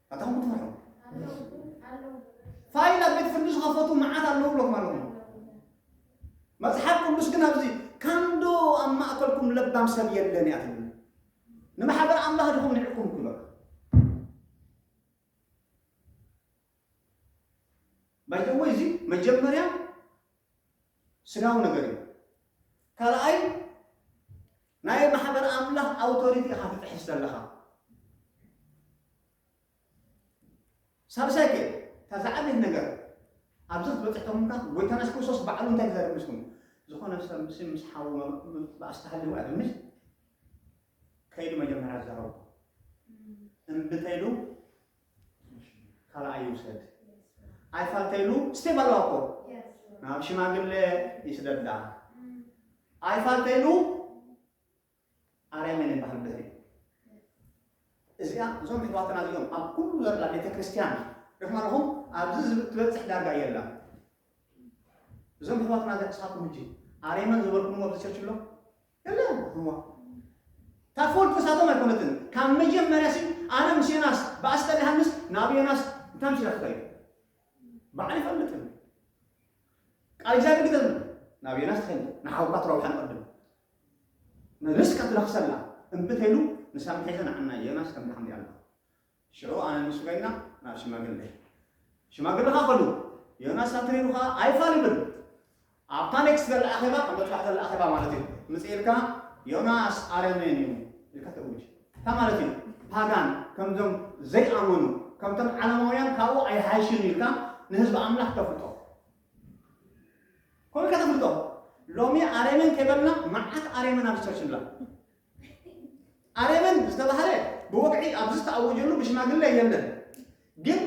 ኣታኹም ክትፈርሑ ፋይል ኣብ ቤት ፍርዲ ዝኸፈቱ መዓት ኣለዉ ብለኩም ኣለኹ መፅሓፍ ቅዱስ ግን ኣብዚ ካንዶ ኣብ ማእከልኩም ለባም ሰብ የለን እያ ትብል ንማሕበር ኣምላኽ ድኹም ንዕኩም ክሎ ባይተወ እዚ መጀመርያ ስጋዊ ነገር እዩ። ካልኣይ ናይ ማሕበር ኣምላኽ ኣውቶሪቲ ኢኻ ትጥሕስ ዘለኻ። ሳልሳይ ከ እታ ዝዓበየት ነገር ኣብዚ ክትበፅሕ ተሙልካ ጎይታና የሱስ ክርስቶስ ባዕሉ እንታይ ተዛረብ ምስኩም ዝኾነ ሰብ ምስ ምስ ሓው ምባእስ ተሃልዎ ኣይብል ከይዱ መጀመርያ ዝዛረቡ እምቢ ተይሉ ካልኣይ ይውሰድ ኣይፋልተይሉ ስቴፕ ኣለዋ እኮ ናብ ሽማግለ ይስደዳ ኣይፋልተይሉ ኣርያመን ይበሃል ድሕሪ እዚኣ እዞም ሕዋትና እዚኦም ኣብ ኩሉ ዘላ ቤተ ክርስቲያን ርሕማ ኣለኹም ኣብዚ ዝብ- ትበፅሕ ዳርጋ የላ እዞም ሕዋትና እዚኣ ንስኻትኩም ሕጂ ኣርያመን ዝበልኩምዎ ኣብዚ ቸርች ኣሎ የለን እሞ እታ ፉል ተሳቶም ኣይኮነትን ካብ መጀመርያ ሲ ኣነ ምስ ዮናስ ብኣስተ ዮሃንስ ናብ ዮናስ እንታይ ምሽራትካ እዩ ባዕሉ ይፈልጥ እዩ ቃል እግዚኣብሔር ግደ ናብ ዮናስ ትኸይድ ንሓውካ ትረብሓ ንቐድም ንርስካ ትረኽሰላ እምቢ ተይሉ ንሳ ምሒዘ ንዓና ዮናስ ከም ድሓም ሪኣና ሽዑ ኣነ ምስ ኮይና ናብ ሽማግለ ሽማግለ ከኣ ከሉ ዮናስ ኣንተሪሩ ከኣ ኣይፋል ይብል ኣብታ ኔክስት ዘላ ኣኼባ ኣብ መጥባሕቲ ዘላ ኣኼባ ማለት እዩ ምጽእ ኢልካ ዮናስ ኣረሜን እዩ ኢልካ ተእውጅ እንታይ ማለት እዩ ፓጋን ከምዞም ዘይኣመኑ ከምቶም ዓለማውያን ካብኡ ኣይሓይሽን ኢልካ ንህዝቢ ኣምላኽ ተፍልጦ ከምኡ ኢልካ ተፍልጦ ሎሚ ኣረሜን ከይበልና መዓት ኣረሜን ኣብ ቸርች ንላ ኣረመን ዝተባህለ ብወግዒ ኣብዚ ዝተኣወጀሉ ብሽማግለ የለን ግን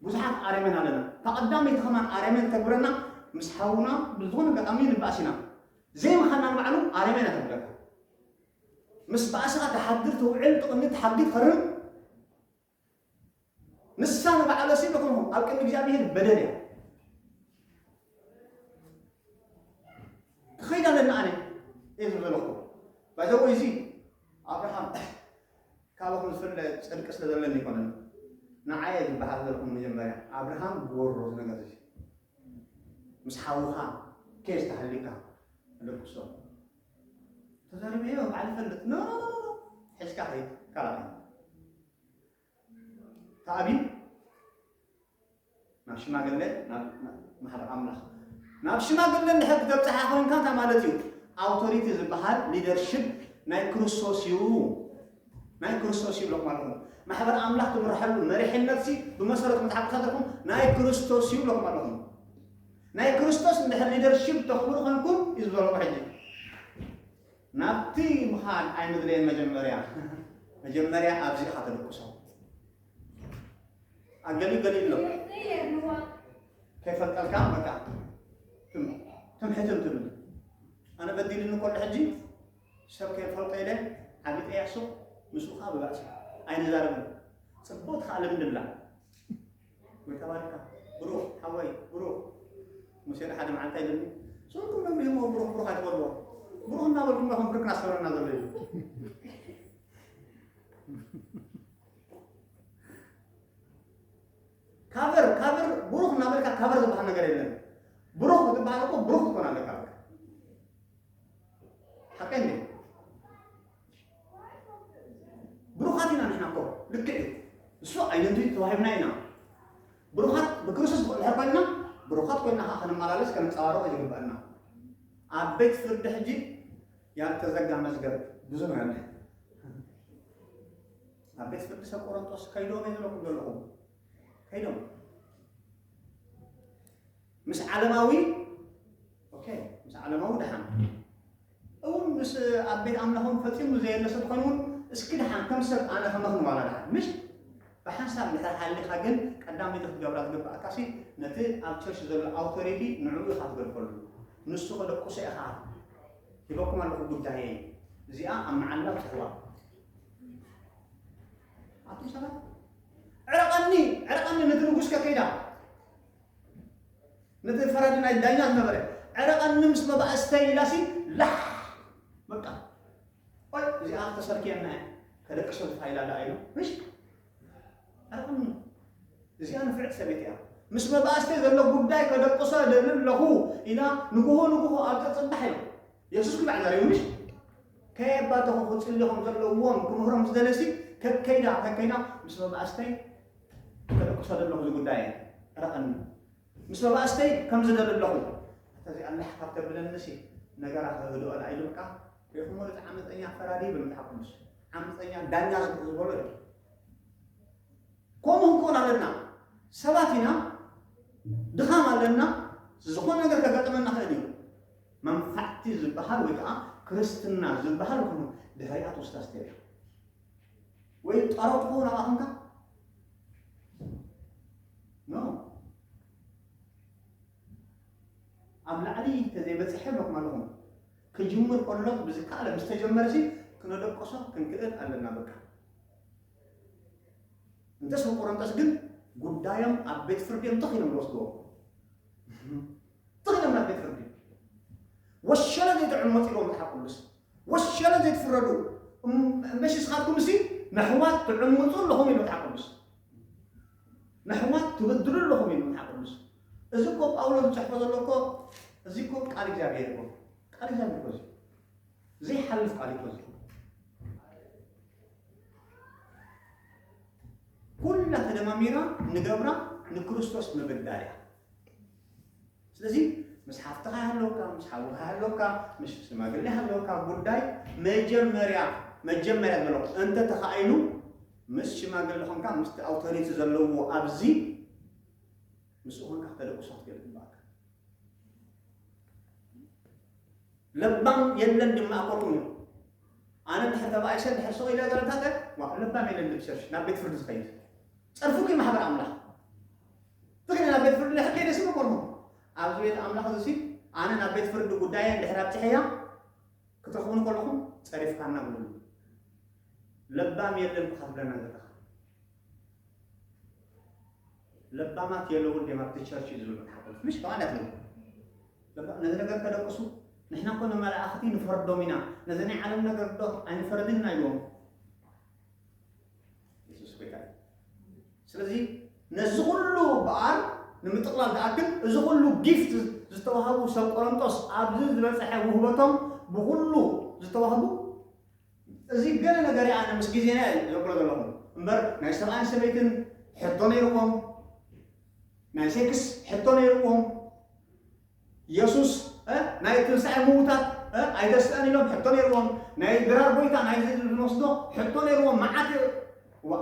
ብዙሓት ኣረመን ኣለና እታ ቀዳመይቲ ከማን ኣረመን ተግብረና ምስ ሓውና ብዝኾነ ኣጋጣሚ ንባእስ ኢና ዘይምኻና ንባዕሉ ኣረመን ኣተብለካ ምስ ባእስኻ ተሓድር ትውዕል ትቕኒ ትሓግት ኸርም ንሳ ንባዕላ ሲ ንኹኑ ኣብ ቅድሚ እግዚኣብሔር በደል እያ ክኸይድ ኣለና ኣነ እየ ዝበለኹ ባይዘወ እዚ ኣብርሃም ካብኹም ዝፍለ ፅድቂ ስለ ዘለኒ ይኮነን ንዓየ ዝበሃል ዘለኹም መጀመርያ ኣብርሃም ጎሮ ዝነገር እዚ ምስ ሓውኻ ኬስ ተሃሊካ ደቅሶ ተገርመዮ ባዕሉ ፈልጥ ኖ ኖ ኖ ኖ ሕዝካ ከይድ ካልኣ ተኣቢ ናብ ሽማግለ ናብ ማሕበር ኣምላኽ ናብ ሽማግለ እንድሕር ክትበፅሓ ኮይንካ እንታይ ማለት እዩ ኣውቶሪቲ ዝበሃል ሊደርሽፕ ናይ ክርስቶስ እዩ ናይ ክርስቶስ እዩ ብለኩም ኣለኹም ማሕበር ኣምላኽ ትምርሐሉ መሪሕነት ሲ ብመሰረቱ መፅሓፍ ቅዱስ ኣለኩም ናይ ክርስቶስ እዩ ብለኩም ኣለኹም ናይ ክርስቶስ እንድሕር ሊደርሺፕ ተኽብሩ ኮንኩም እዩ ዝበለኩ ሕጂ ናብቲ ምኻድ ኣይምድለየን መጀመርያ መጀመርያ ኣብዚ ኢኻ ተደቁሶ ኣገሊኡ ገሊኡ ኣሎ ከይፈልጠልካ በቃ ትም ትም ሕትም ትብል ኣነ በዲልኒ ኮሎ ሕጂ ሰብ ከይፈልጦ ኢለ ዓቢጠ ያሱ ምስኡኻ ብባእሲ ኣይንዛረብን ጽቡቕ ትኸኣ ልምዲ ብላ ይተባርካ ብሩኽ ሓወይ ብሩኽ ሙሴ ዶ ሓደ መዓልቲ ኣይደሊ ዞኩም ነብሪ ህሞ ብሩኽ ብሩኽ ኣይትበልዎ ብሩኽ እናበልኩም ዶ ከም ክርክና ሰበረና ዘሎ እዩ ካበር ካበር ብሩኽ እናበልካ ካበር ዝበሃል ነገር የለን ብሩኽ ክትበሃል እኮ ብሩኽ ትኮን ኣለካ ሓቀን ብሩኻት ኢና ንሕና እኮ ልክዕ እዩ እሱ ኣይደንቲቲ ተዋሂብና ኢና ብሩኻት ብክርስቶስ ብቁልሐ ኮይና ብሩኻት ኮይና ከዓ ከነመላለስ ከነንፀባርቆ ይግበአና ኣብ ቤት ፍርድ ሕጂ ያልተዘጋ መዝገብ ብዙ ነው ያለ ኣብ ቤት ፍርድ ሰብ ቆሮንጦስ ከይዶም እየ ዝለኩም ዘለኹም ከይዶም ምስ ዓለማዊ ኦኬ ምስ ዓለማዊ ድሓን እውን ምስ ኣብ ቤት ኣምላኾም ፈጺሙ ዘየለ ሰብ ኾን እውን እስኪ ድሓን ከም ሰብ ኣነ ከመኽን ዋላ ድሓን ምሽ ብሓንሳብ ድሕር ሃሊኻ ግን ቀዳመይቲ ክትገብራ ዝግብኣካ ሲ ነቲ ኣብ ቸርች ዘሎ ኣውቶሪቲ ንዕኡ ኢኻ ትገድፈሉ ንሱ ከደቁሰ ኢኻ ሂበኩም ኣለኹ ጉዳየ እዚኣ ኣብ መዓላ ብትሕዋ ኣቱም ሰባት ዕረቐኒ ዕረቐኒ ነቲ ንጉስ ከከይዳ ነቲ ፈራዲ ናይ ዳኛ ዝነበረ ዕረቐኒ ምስ መባእ ስተይ ኢላሲ ላሕ በቃ ኦይ እዚኣ ተሰርክየና እያ ከደቅሶ ዝፋይላ ኣላ ኢሉ ምሽ ዕረቐኒ እዚኣ ንፍዕቲ ሰበይቲ እያ ምስ መባእስተ ዘሎ ጉዳይ ከደቅሶ ደሊ ኣለኹ ኢና ንግሆ ንግሆ ኣብ ፅፅባሕ ኢሎም የሱስ ክባዕ ዘሪቡ ምሽ ከየባተኹ ክፅልኹም ዘለዎም ክምህሮም ዝደለሲ ከከይዳ ከከይዳ ምስ መባእስተይ ተደቅሶ ደለኹ እዚ ጉዳይ ረቐኒ ምስ መባእስተይ ከም ዝደሊ ኣለኹ እተዚኣ ኣላሕ ካብ ተብለንሲ ነገራ ከህድኦ ዳኣ ኢሉ በቃ ሪኹሞ እቲ ዓመፀኛ ፈራዲ ይብል መጽሓፍ ቅዱስ ዓመፀኛ ዳኛ ዝበሎ እዩ ከምኡ ክንከውን ኣለና ሰባት ኢና ድኻም ኣለና ዝኾነ ነገር ከጋጥመና ክእል እዩ መንፋዕቲ ዝበሃል ወይ ከዓ ክርስትና ዝበሃል ድሕሪኣ ትውስታ ስተብያ ወይ ጳሮት ክኸውን ኣቃተንካ ኖ ኣብ ላዕሊ ተዘይበፅሐ ኣለኹም ኣለኹም ክጅምር ከሎ ብዝከኣለ ምስ ተጀመረ ሲ ክነደቀሶ ክንክእል ኣለና በቃ እንተስ ንቆረንጠስ ግን ጉዳዮም ኣብ ቤት ፍርዲ እዮም ተኽ ኢሎም ዝወስድዎ ተኽ ኢሎም ናብ ቤት ፍርዲ ወሸለ ዘይጥዕም ወፂዎም ዝሓቁሉስ ወሸለ ዘይትፍረዱ እምበሺ ስኻትኩምሲ ነሕዋት ትዕምጹ ኣለኹም ኢሉ መጽሓፍ ቅዱስ ነሕዋት ትብድሉ ኣለኹም ኢሉ መጽሓፍ ቅዱስ እዚ እኮ ጳውሎስ ዝጽሕፎ ዘሎ እኮ እዚ እኮ ቃል እግዚኣብሔር እኮ ቃል እግዚኣብሔር እኮ እዚ ዘይሓልፍ ቃል እኮ እዚ ኩላ ተደማሚራ ንገብራ ንክርስቶስ ምብዳል እያ ስለዚ ምስ ሓፍትኻ ሃለውካ ምስ ሓውካ ሃለውካ ምስ ሽማግሌ ሃለውካ ጉዳይ መጀመርያ መጀመርያ ዘሎ እንተ ተኻኢሉ ምስ ሽማግሌ ኾንካ ምስቲ ኣውቶሪቲ ዘለዎ ኣብዚ ምስ ኾንካ ክተደቅሶ ክትገል ይግባእካ ለባም የለን ድማ ኣኮልኩም እዩ ኣነ ድሕር ተባኣይ ሰብ ድሕር ሰው ኢለ ዘረታተ ለባም የለን ድብሰርሽ ናብ ቤት ፍርዲ ዝኸይድ ጸርፉ ማሕበር ኣምላኽ ትግርኛ ናብ ቤት ፍርዲ ድሕር ከይደሲ ንኮኖ ኣብዚ ቤት ኣምላኽ እዚሲ ኣነ ናብ ቤት ፍርዲ ጉዳየን ድሕር ኣብፅሐያ ክትረኽቡኒ ከለኹም ፀሪፍካና ብሉ ለባም የለን እኳ ክትብለና ዘለኻ ለባማት የለውን ዲም ኣብቲ ቸርች እዩ ዝብል መፅሓፍ ምሽ ከዓ እንዳትነው ነዚ ነገር ከደቅሱ ንሕና ኮነ መላእኽቲ ንፈርዶም ኢና ነዚ ናይ ዓለም ነገር ዶ ኣይንፈረድን ኢና ኢዎም ኢየሱስ ጎይታ እዩ። ስለዚ ነዚ ኩሉ በዓል ንምጥቕላል ዝኣክል እዚ ኩሉ ጊፍት ዝተዋህቡ ሰብ ቆሮንቶስ ኣብዚ ዝበፅሐ ውህበቶም ብኩሉ ዝተዋህቡ እዚ ገለ ነገር ኣነ ምስ ግዜና እዩ ዘብሎ ዘለኹ እምበር ናይ ሰብኣይን ሰበይትን ሕቶ ነይርዎም ናይ ሴክስ ሕቶ ነይርዎም የሱስ እ ናይ ትንሳኤ ምዉታት እ ኣይተስእን ኢሎም ሕቶ ነይርዎም ናይ ድራር ጎይታ ናይ እዚ ንወስዶ ሕቶ ነይርዎም መዓት እ ዋ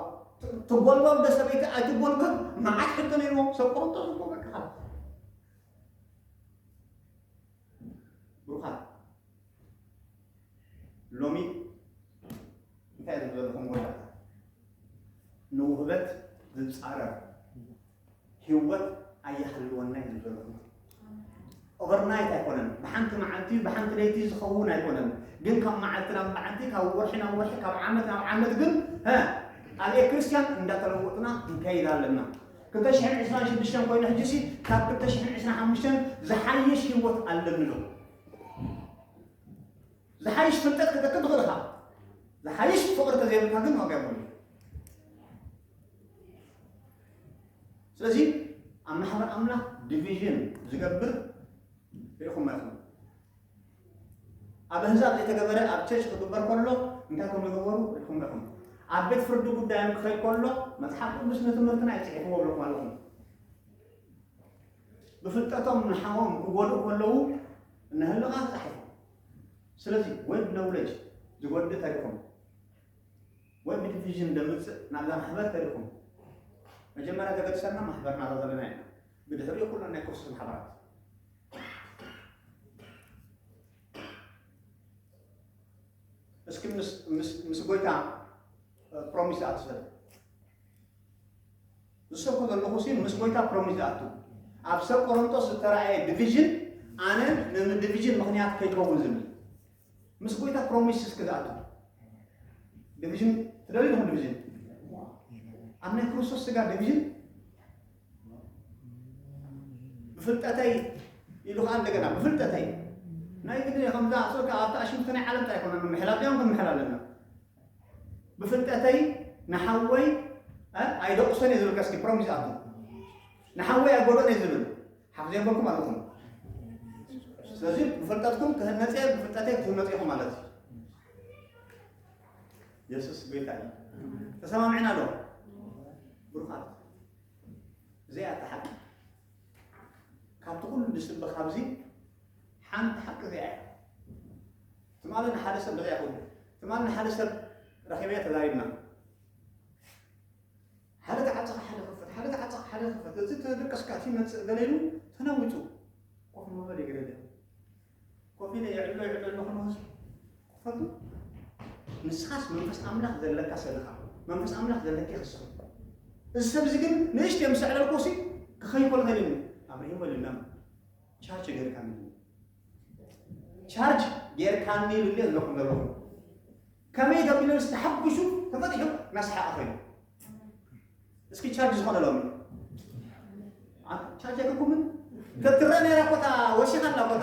ትጎልጎል ዶ ሰበይቲ ኣይትጎልጎል መዓት ሕቶ ነይርዎም ሰብ ቆሮንጦስ እኮ በቃ ብሩኻት ሎሚ እንታይ ዝም ዘለኹም ጎዳታ ንውህበት ዝፃረር ህይወት ኣየሃልወና እዩ ዝም ዘለኹም ኦቨርናይት ኣይኮነን ብሓንቲ መዓልቲ ብሓንቲ ለይቲ ዝኸውን ኣይኮነን ግን ካብ መዓልቲ ናብ መዓልቲ ካብ ወርሒ ናብ ወርሒ ካብ ዓመት ናብ ዓመት ግን ሀ ኣብየ ክርስቲያን እንዳተለወጥና ንከይድ ኣለና ክልተ ሽሕን ዕስራን ሽዱሽተን ኮይኑ ሕጂ ሲ ካብ ክልተ ሽሕን ዕስራን ሓሙሽተን ዝሓይሽ ህይወት ኣለኒ ዶ ዝሓይሽ ፍልጠት ክትረክብ ትኽእል ኢኻ። ዝሓይሽ ፍቕሪ ተዘይብልካ ግን ዋጋ የብሉን። ስለዚ ኣብ ማሕበር ኣምላኽ ዲቪዥን ዝገብር ርኢኹም ኢኹም። ኣብ ኣህዛብ ዘይተገበረ ኣብ ቸርች ክግበር ከሎ እንታይ ከም ዝገበሩ ርኢኹም ኢኹም። ኣብ ቤት ፍርዲ ጉዳዮም ክኸይድ ከሎ መጽሓፍ ቅዱስ ንትምህርትና ይጽሒፍዎ ብለኩም ኣለኹም። ብፍልጠቶም ንሓዎም ክጎድኡ ከለዉ እናሃለኻ ጥራሕ ኢኻ። ስለዚ ወድ ነውለጅ ዝጎድእ ተሪኹም ወድ ንዲቪዥን ዘምጽእ ናብዛ ማሕበር ተሪኹም መጀመርያ ተገድሰና ማሕበርና እዛ ዘለና ኢና ብድሕሪኡ ኩለን ናይ ክርስቶስ ማሕበራት እስኪ ምስ ጎይታ ፕሮሚስ ኣትሰብ ዝሰብኮ ዘለኹሲ ምስ ጎይታ ፕሮሚስ ዝኣቱ ኣብ ሰብ ቆሮንጦስ ዝተራእየ ድቪዥን ኣነ ነም ድቪዥን ምኽንያት ከይከውን ዝብል ምስ ጎይታ ፕሮሚስ እስከ ዝኣቱ ድቪዥን ትደልዩ ዲኹም ድቪዥን ኣብ ናይ ክርስቶስ ስጋ ድቪዥን ብፍልጠተይ ኢሉ ከዓ እንደገና ብፍልጠተይ ናይ ግዲ ከምዛ ኣስወካ ኣብታ ኣሽምቲ ናይ ዓለም እንታይ ኮነ ምሕላብ ዲያም ክንምሕላ ኣለና ብፍልጠተይ ንሓወይ ኣይደቑሶን እየ ዝብል ከስኪ ፕሮሚስ ኣቶ ንሓወይ ኣይጎድኦን እየ ዝብል ሓፍዘ በልኩ ማለት እዩ ስለዚ ብፍልጠትኩም ክህነፅ እየ ብፍልጠተይ ክትህነፁ ኢኹም ማለት እዩ የሱስ ጎይታ እዩ ተሰማምዕና ዶ ብሩኻት እዚኣ እታ ሓቂ ካብቲ ኩሉ ዝስበኽ ኣብዚ ሓንቲ ሓቂ እዚኣ እያ ትማሊ ንሓደ ሰብ እንታይ ይኸውን? ትማሊ ንሓደ ሰብ ረኺበዮ ተዛሪብና። ሓደ ተዓፀኸ ሓደ ክፈት፣ ሓደ ተዓፀኸ ሓደ ክፈት፣ እዚ ተደቀስካ እቲ ይመፅእ ገለ ኢሉ ተናዊፁ ኮፍ ምበል ይገደደ ኮፍ ኢለ ይዕሎ ይዕሎ ኣለኹ ንህዝቢ ክፈቱ ንስኻስ መንፈስ ኣምላኽ ዘለካ ሰለኻ መንፈስ ኣምላኽ ዘለኪ ክስኹ እዚ ሰብ እዚ ግን ንእሽተ ምስ ዕለልኩ ሲ ክኸይኮል ኸይልን ኣብሪሂሞ ልናም ቻርች ገርካ ምን ቻርጅ ጌርካኒ ኢሉኒ ኣለኹ ለበኹ ከመይ ደብልዮስ ተሓጒሱ ተፈትሑ መስሓቂ ኮይኑ እስኪ ቻርጅ ዝኾነ ሎሚ ቻርጅ ኣይከኩምን ተትረአ ነይራ እኮ እታ ወሲኻ ኣላ እኮ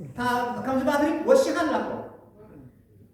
እታ ከምዚ ባትሪ ወሲኻ ኣላ እኮ